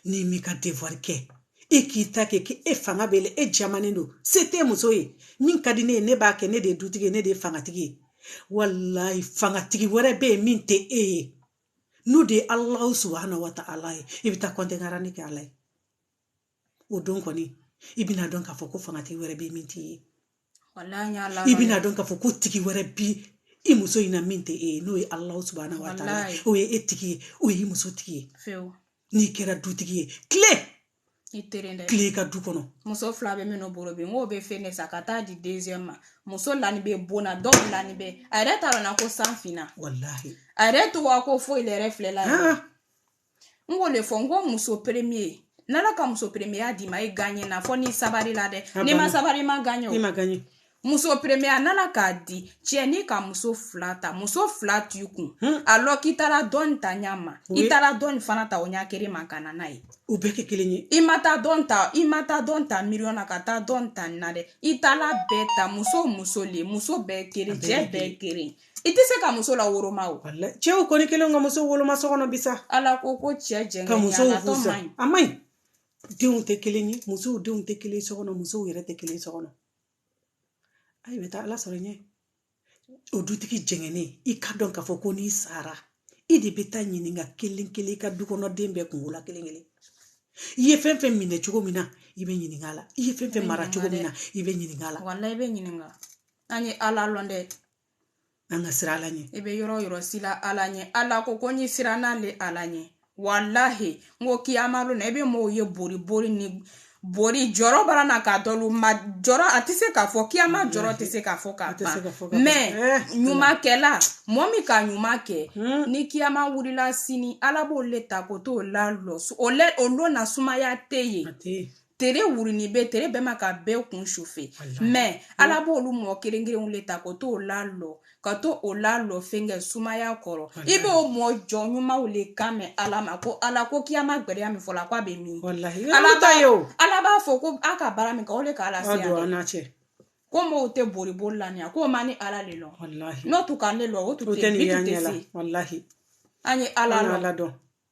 n'i m'i ka devoir kɛ e k'i ta kɛ k'e fanga b'e la e jamanen don se tɛ muso ye min ka di ne ye ne b'a kɛ ne de ye dutigi ye ne de ye fangatigi ye walahi fangatigi wɛrɛ bɛ yen min tɛ e ye n'o de ye alahu subhana wa ta'ala ye i bɛ taa compte rendu kɛ ala ye o don kɔni i bɛna dɔn k'a fɔ ko fangatigi wɛrɛ bɛ min t'i ye i bɛna dɔn k'a fɔ ko tigi wɛrɛ bi i muso in na min tɛ e ye n'o ye alahu subhana wa ta'ala o ye e tigi ye o ye i muso tigi ye n'i kɛra dutigi ye tile i tilen dɛ tilen ka du kɔnɔ muso fila bɛ minnu bolo bi n k'o bɛ fɛn ne san ka taa di deuxième ma muso lani bɛ bon na dɔw lani bɛ a yɛrɛ t'a dɔn na ko san finna walahi a yɛrɛ t'o ka ko foyi la yɛrɛ filɛ la n k'o le fɔ n ko muso premier n'ala ka muso premier d'i ma i gaɲɛ na fɔ ni sabari la dɛ n'i ma sabari i ma gaɲɛ o i ma gaɲɛ muso premier n'ala k'a di cɛ n'i ka muso fila ta muso fila t'i kun hmm. a lɔn k'i taara dɔ in ta ɲa ma i taara dɔ in fana ta o ɲa kelen ma ka na n'a ye u bɛɛ kɛ kelen ye i ma taa dɔ in ta i ma taa dɔ in ta miliyɔn na ka taa dɔ in ta na dɛ i taala bɛɛ ta muso muso le muso bɛɛ kelen cɛ bɛɛ kelen i tɛ se ka muso la woroma o cɛw kɔni kɛlen ka muso woloma so kɔnɔ bi sa ala ko ko cɛ jɛngɛ ka musow fusa a man ɲi denw tɛ kelen ye musow denw tɛ kelen so kɔnɔ musow yɛrɛ tɛ kelen so kɔnɔ a i bɛ taa ala sɔrɔ ɲɛ o dutigi jɛngɛnen i ka dɔn k'a fɔ ko n'i sara i de bɛ taa ɲininka kelen kelen i ka du kɔnɔ den bɛɛ kunko la kelen kelen i ye fɛn fɛn minɛ cogo min na i bɛ ɲininka a la i ye fɛn fɛn mara cogo min na i bɛ ɲininka a la walahi i bɛ ɲininka an ye ala lɔn dɛ an ka siran ala ɲɛ i bɛ yɔrɔ yɔrɔ silan ala ɲɛ ala ko ko i siran ale ala ɲɛ walahi n ko kiyama lon na i bɛ mɔgɔw ye bori bori ni bori jɔrɔ bara na k'a dɔlu ma jɔrɔ a tɛ se k'a fɔ kiyama jɔrɔ tɛ se k'a fɔ k'a ban mais eh, ɲumankɛla mɔɔ min ka ɲuman kɛ hmm. ni kiyama wulila sini ala b'o le ta ka t'o lalɔ o lon na sumaya tɛ yen tere wurunin bɛ tere bɛ mɔgɔ bɛɛ kun chauffer mais ala b'olu mɔgɔ kelen kelenw le ta ka t'o lalɔ ka t'o lalɔ fɛnkɛ sumaya kɔrɔ i b'o mɔɔ jɔn ɲumanw le kan mɛn ala ma ko ala ko kiyama gbɛlɛya min fɔla k'a bɛ min ala ta ye o ala b'a fɔ ko a ka baara min kɛ o de k'a lase yan ko mɔgɔw tɛ boli boli la nin k'o ma ne ala le lɔn n'o tun ka ne lɔn o tun tɛ ni tɛ se an ye ala ala dɔn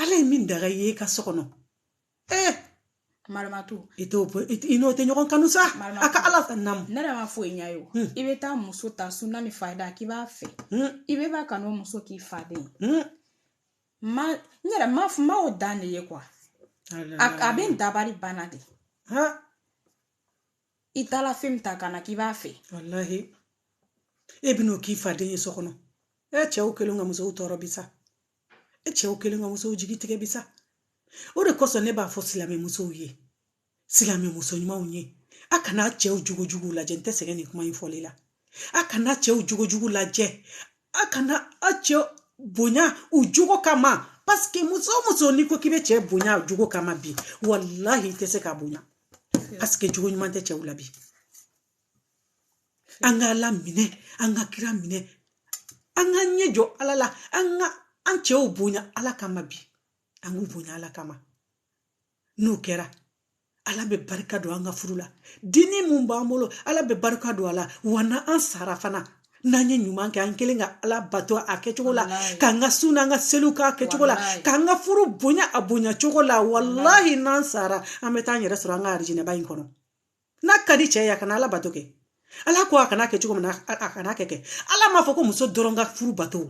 ala ye min daga i ye i ka so kɔnɔ ee maramatu i t'o i n'o tɛ ɲɔgɔn kanu sa a ka ala fɛ namu ne yɛrɛ b'a fɔ i ɲa ye o i bɛ taa muso ta suna ni farida k'i b'a fɛ i bɛ b'a kanu muso k'i faden ma n yɛrɛ ma ma o dan de ye quoi a bɛ n dabali ban na dɛ i taara fɛn min ta ka na k'i b'a fɛ walahi e bɛn'o k'i faden ye so kɔnɔ e cɛw kɛlen ka musow tɔɔrɔ bi sa e cɛw kɛlen ka musow jigi tigɛ bi sa o de kosɔn ne b'a fɔ silamɛ musow ye silamɛ muso ɲumanw ye a kana cɛw jogo jugu lajɛ n tɛ sɛgɛn nin kuma in fɔli la a kana cɛw jogo jugu lajɛ a kana a cɛ bonya u jogo kama paseke muso o muso n'i ko k'i bɛ cɛ bonya a jogo kama bi walahi i tɛ se k'a bonya paseke jogo ɲuman tɛ cɛw la bi an ka ala minɛ an ka kira minɛ an ka ɲɛ jɔ ala la an ka an cɛw bonya ala kama bi an k'u bonya ala kama n'o kɛra ala bɛ barika don an ka furu la den min b'an bolo ala bɛ barika don a la wa n'an sara fana n'an ye ɲuman kɛ an kɛlen ka ala bato a kɛcogo la k'an ka sun n'an ka seliw k'a kɛcogo la k'an ka furu bonya a bonya cogo la walahi n'an sara an bɛ taa an yɛrɛ sɔrɔ an ka arijinɛba in kɔnɔ n'a ka di cɛ ye a kana ala bato kɛ ala ko a kana kɛ cogo min na a kana kɛ kɛ ala m'a fɔ ko muso dɔrɔn ka furu bato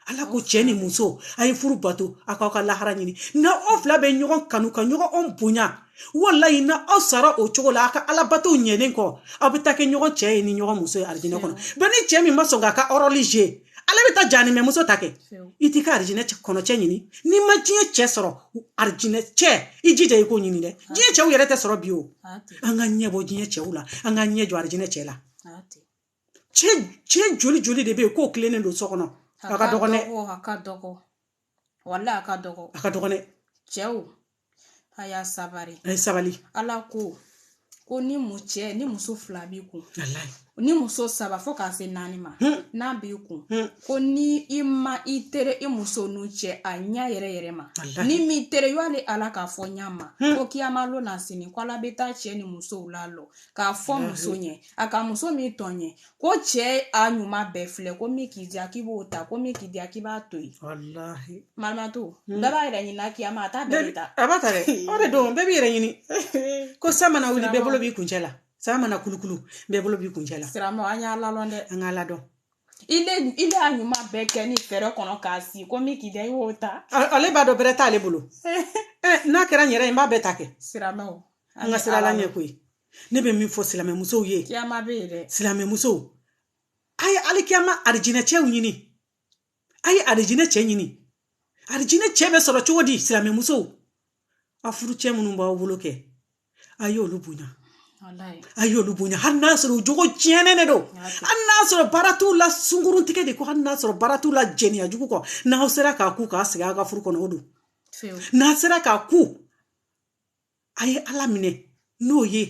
ala ko cɛ ni muso a ye furu bato a k'aw ka lahara ɲini na aw fila bɛ ɲɔgɔn kanu ka ɲɔgɔn bonya walayi na aw sara o cogo la a ka ala bato ɲɛnen kɔ aw bɛ taa kɛ ɲɔgɔn cɛ ye ni ɲɔgɔn muso ye arijinɛ kɔnɔ mɛ ni cɛ min ma sɔn k'a ka ɔrɔli kɛ ale bɛ taa janimɛ muso ta kɛ i t'i ka arijinɛ kɔnɔ cɛ ɲini n'i ma diɲɛ cɛ sɔrɔ arijinɛ cɛ i jija i k'o ɲini dɛ diɲɛ cɛw yɛrɛ tɛ sɔrɔ bi o an ka ɲɛ bɔ diɲɛ cɛw la an ka ɲɛ jɔ arijinɛ cɛ la cɛ joli joli de bɛ yen k'u tilennen don so kɔnɔ a ka dɔgɔn dɛ walayi a ka dɔgɔ a ka dɔgɔ dɛ cɛw a y'a sabari a ye sabali ala ko ko ni mu cɛ ni muso fila b'i kun ni muso saba fo k'a se naani ma hmm. n'a b'i kun hmm. ko ni i ma i tere i muso nunu cɛ a ɲɛ yɛrɛ yɛrɛ ma n'i m'i tere y'ale ala k'a fɔ ɲa ma hmm. ko kiyama lo na sini ko ala bɛ taa cɛ ni musow lalɔ k'a fɔ muso ɲɛ a ka muso min tɔɲɔ ko cɛ a ɲuman bɛɛ filɛ ko min k'i diya k'i b'o ta ko min k'i diya k'i b'a to yen walahi mamato hmm. bɛɛ b'a yɛrɛ ɲinina kiyama a t'a bɛɛ ta a b'a ta dɛ o de don bɛɛ b'i yɛrɛ ɲini ko san mana wuli bɛɛ bolo b'i kuncɛ la san mana kulukulu bɛɛ bolo b'i kuncɛ la silamɛw an y'ala dɔn dɛ an k'ala dɔn ile ile a ɲuman bɛɛ kɛ ni fɛrɛ kɔnɔ k'a si ko min k'i diya i y'o ta ale b'a dɔn bɛrɛ t'ale bolo eh, n'a kɛra n yɛrɛ ye n b'a bɛɛ ta kɛ silamɛw an ka siran ala ɲɛ koyi ne bɛ min fɔ silamɛmusow ye kiyama bɛ yen dɛ silamɛmusow a ye alikiyama arijinɛ cɛw ɲini a ye arijinɛ cɛ ɲini arijinɛ cɛ bɛ sɔrɔ cogo di silamɛmusow a furu cɛ minnu b'aw bolo kɛ a y'olu bonya a y'olu bonya hali n'a sɔrɔ u jogo tiɲɛnen de don hali n'a sɔrɔ baara t'u la sungurun tigɛ de kɔ hali n'a sɔrɔ baara t'u la jɛniya jugu kɔ n'aw sera k'a kun ka sigi a ka furu kɔnɔ o don n'a sera k'a kun a ye ala minɛ n'o ye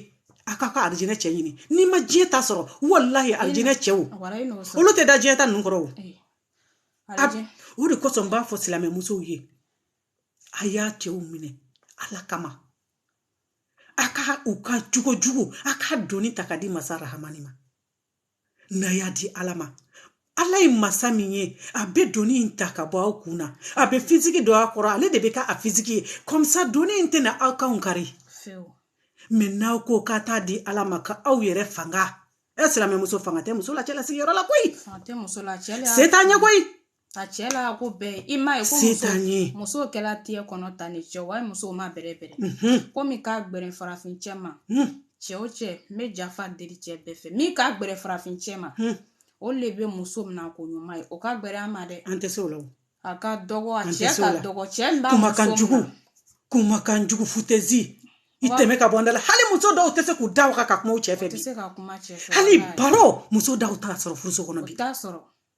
a ka ka arijinɛ cɛ ɲini n'i ma diɲɛ ta sɔrɔ walahi arijinɛ cɛw olu tɛ da diɲɛ ta ninnu kɔrɔ o o de kosɔn n b'a fɔ silamɛmusow ye a y'a cɛw minɛ ala kama a ka u ka jogo jugu a ka doni ta ka di masa rahamani ma n'a y'a di ala ma ala ye masa min ye a bɛ doni in ta ka bɔ aw kun na a bɛ fisiki don a kɔrɔ ale de bɛ ka a fisiki ye kɔmisa doni in tɛna aw kanw kari mɛ n'aw ko k'a t'a di ala ma ka aw yɛrɛ fanga ɛ silamɛmuso fanga tɛ muso la cɛlasigi yɔrɔ la koyi se t'a ye koyi a cɛ la ko bɛɛ i ma ye ko muso muso kɛla tiyɛ kɔnɔ tan de cɛ wa muso ma bɛrɛ bɛrɛ komi k'a gbɛrɛ farafin cɛ ma cɛ o cɛ n bɛ jafa deli cɛ bɛɛ fɛ min k'a gbɛrɛ farafin cɛ ma o le bɛ muso mina ko ɲuman ye o ka gbɛrɛ an ma dɛ an tɛ se o la a ka dɔgɔ a cɛ ka dɔgɔ cɛ min b'a muso mina kumakan jugu futɛzi i tɛmɛ ka bɔ n da la hali muso dɔw tɛ se k'u da waga ka kuma u cɛ fɛ bi hali baro muso dɔw t'a sɔrɔ furuso kɔnɔ bi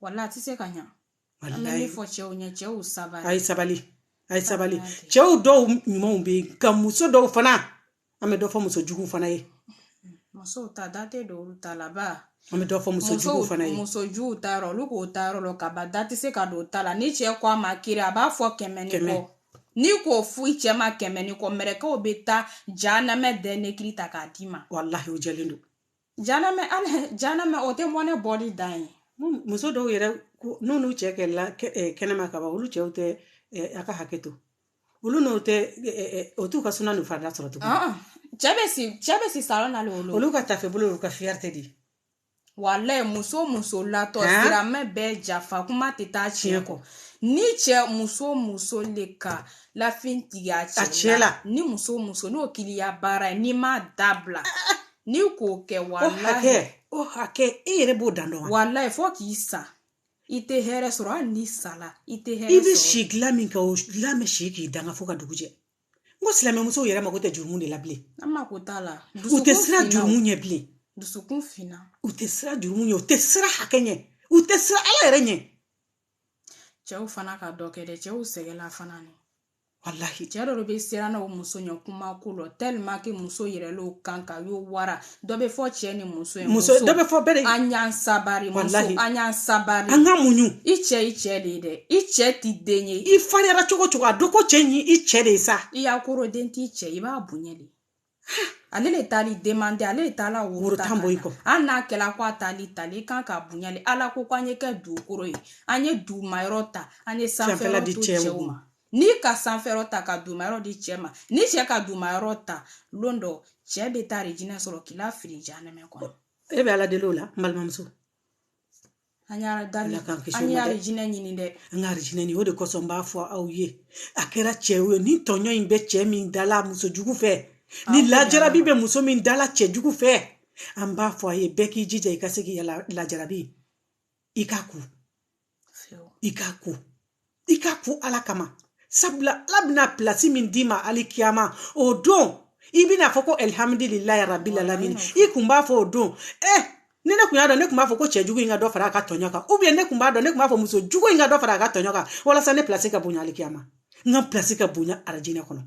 wala tɛ se ka ɲa an bɛ fɔ cɛw ɲɛ cɛw sabali a ye sabali a ye sabali cɛw dɔw ɲumanw bɛ yen nka muso dɔw fana an bɛ dɔ fɔ muso jugu fana ye musow ta da tɛ don u ta la ba an bɛ dɔ fɔ muso jugu fana ye muso juguw ta yɔrɔ olu k'o ta yɔrɔ la ka ban da tɛ se ka don ta la ni cɛ ko a ma kiri a b'a fɔ kɛmɛ ni kɔ n'i k'o fɔ i cɛ ma kɛmɛ ni kɔ mɛrɛkɛw bɛ taa janamɛ dɛn ne kiri ta k'a d'i ma walahi o jɛlen don Janamɛ hali janamɛ o tɛ mɔnɛ bɔli dan ye muso dɔw yɛrɛ n'olu cɛ kɛlɛla kɛnɛma ka ban olu cɛw tɛ a ka hakɛ to olu n'o tɛ o t'u ka suna n'u farida sɔrɔ tugun cɛ bɛ si cɛ bɛ si salon na olu olu ka tafe bolo olu ka fierté de walayi muso muso latɔ silamɛ bɛɛ jafa kuma tɛ taa tiɲɛ kɔ ni cɛ muso muso de ka lafɛn tigɛ a cɛ la ni muso muso n'o kɛl'i ya baara ye n'i m'a dabila n'i k'o kɛ walahi o hakɛ e yɛrɛ b'o dan dɔn wa walahi fo k'i sa i tɛ hɛrɛ sɔrɔ hali n'i sala i tɛ hɛrɛ sɔrɔ i bɛ si dilan min kan o dilan bɛ si k'i danga fo ka dugu jɛ n ko silamɛmusow yɛrɛ mako tɛ jurumu de la bilen an mako t'a la u tɛ siran jurumu ɲɛ bilen dusukun finna u tɛ siran jurumu ɲɛ u tɛ siran hakɛ ɲɛ u tɛ siran ala yɛrɛ ɲɛ cɛw fana ka dɔ kɛ dɛ cɛw sɛgɛnna fana ni walahi cɛ dɔ bɛ siran na o muso ɲɛ kuma ko lɔ tellement que muso yɛrɛ l'o kan ka yo wara dɔ bɛ fɔ cɛ ni muso ye muso dɔ bɛ fɔ bɛɛ de an y'an sabari muso an y'an sabari an ka muɲu i cɛ i cɛ de ye dɛ i cɛ t'i den ye i fariyara cogo cogo a dɔn ko cɛ in i cɛ de ye sa i y'a koro den t'i cɛ i b'a bonya de ale le taal'i demande ale le taala woro tan bɔ i kɔ hali n'a kɛla ko a taali tali i kan k'a bonya le ala ko ko an ye kɛ dugukoro ye an ye dugumayɔrɔ ta an ye sanfɛla di cɛw ma n'i ka sanfɛyɔrɔ ta ka dugumayɔrɔ di cɛ ma ni cɛ ka dugumayɔrɔ ta lon dɔ cɛ bɛ taa arajinɛ sɔrɔ k'i la fili janɛmɛ kɔnɔ e bɛ ala deli o la n balimamuso an y'a da la k'an kisi an y'arajinɛ ɲini dɛ an k'arajinɛ ɲini o de kosɔn n b'a fɔ aw ye a kɛra cɛ ye ni tɔɲɔ in bɛ cɛ min dala muso jugu fɛ ni lajarabi bɛ muso min dala cɛ jugu fɛ an b'a fɔ a ye bɛɛ k'i jija i ka se k'i lajarabi i k'a ku i k'a ku i k'a ku ala kama sabula ala bɛna pilasi min d'i ma alikiyama o don i bɛn'a fɔ ko alihamdulilayi rabilalamini i kun b'a fɔ o don eh ni ne kun y'a dɔn ne kun b'a fɔ ko cɛ jugu in ka dɔ fara a ka tɔɲɔ kan ou bien ne kun b'a dɔn ne kun b'a fɔ muso jugu in ka dɔ fara a ka tɔɲɔ kan walasa ne pilasi ka bonya alikiyama n ka pilasi ka bonya arajinɛ kɔnɔ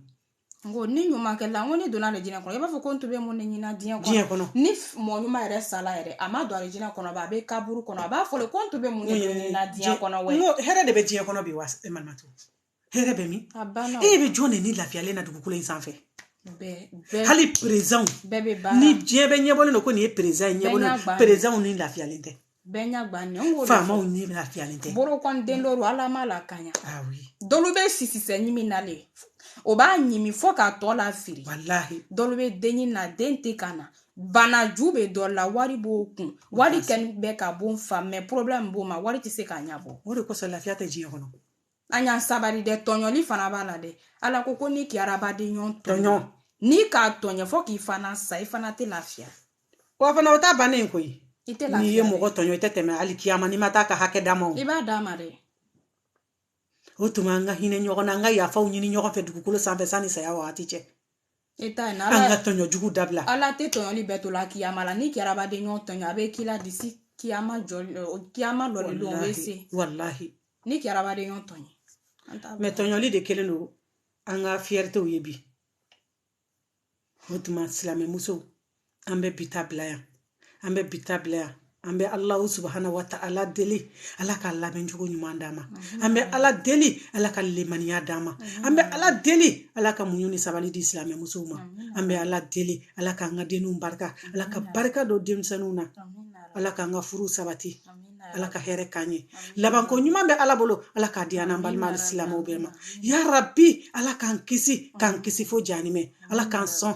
N ko ni ɲuman kɛla n ko ne donna arajinɛ kɔnɔ i b'a fɔ ko n tun bɛ mun de ɲini diɲɛ kɔnɔ ni mɔgɔ ɲuman yɛrɛ sala yɛrɛ a ma don arajinɛ kɔnɔ a bɛ kaburu kɔnɔ a b'a fɔ ko n tun bɛ mun de ɲini diɲɛ kɔnɔ hɛrɛ de bɛ diɲɛ kɔnɔ bi wa e ma to hɛrɛ bɛ min e bɛ jɔn de ni lafiyalen na dugukolo in sanfɛ hali perezidan ni diɲɛ bɛ ɲɛbɔ don ko nin ye perezidan ye perezidanw ni lafiyalen tɛ bɛɛ ɲɛgannen ko faamaw ni lafiyalen tɛ borokɔniden looru ala m'a lakaɲa dɔlu bɛ sisisɛ ɲimi na le o b'a ɲimi fo k'a tɔ lafiri walahi dɔlu bɛ den ɲini na den tɛ ka na banaju bɛ dɔ la wari b'o kun wari kɛni bɛ ka bon fa mais problème b'o ma wari tɛ se k'a ɲɛbɔ o de kosɔn lafiya tɛ diɲɛ kɔnɔ an y'an sabali dɛ tɔɲɔli fana b'a la dɛ ala ko ko n'i k'i adamaden ɲɔgɔn tɔɲɔ n'i k'a tɔɲɔ fo k'i fana sa i fana tɛ lafiya wa fana o ta bannen koyi i tɛ lafiya n'i ye mɔgɔ tɔɲɔ i tɛ tɛmɛ alikiyama n'i ma taa k'a hakɛ d'a ma i b'a d'a ma dɛ o tuma an ka hinɛ ɲɔgɔn na an ka yafaw ɲini ɲɔgɔn fɛ dugukolo sanfɛ sanni saya wagati cɛ e ta in ala an ka tɔɲɔ jugu dabila ala tɛ tɔɲɔli bɛɛ to la kiyama la n'i k'i adamaden ɲɔgɔn tɔɲɔ a bɛ k'i la disi kiyama jɔli kiyama lɔli don o bɛ se walahi n'i k'i adamaden ɲɔgɔn tɔɲɔ mais tɔɲɔli de kɛlen don an ka fierté ye bi o tuma silamɛmuso an bɛ bi ta bila yan an bɛ bi ta bila yan an bɛ ala subahana wa ta'ala deli ala ka laban cogo ɲuman d'an ma an bɛ ala deli ala ka lemaniya d'an ma an bɛ ala deli ala ka muɲu ni sabali di silamɛ musow ma an bɛ ala deli ala k'an ka denw barika ala ka barika don denmisɛnninw na ala k'an ka furu sabati ala ka hɛrɛ k'an ye labanko ɲuman bɛ ala bolo ala k'a di an n'an balima silamɛw bɛɛ ma ya rabi ala k'an kisi k'an kisi fo janimɛ ala k'an sɔn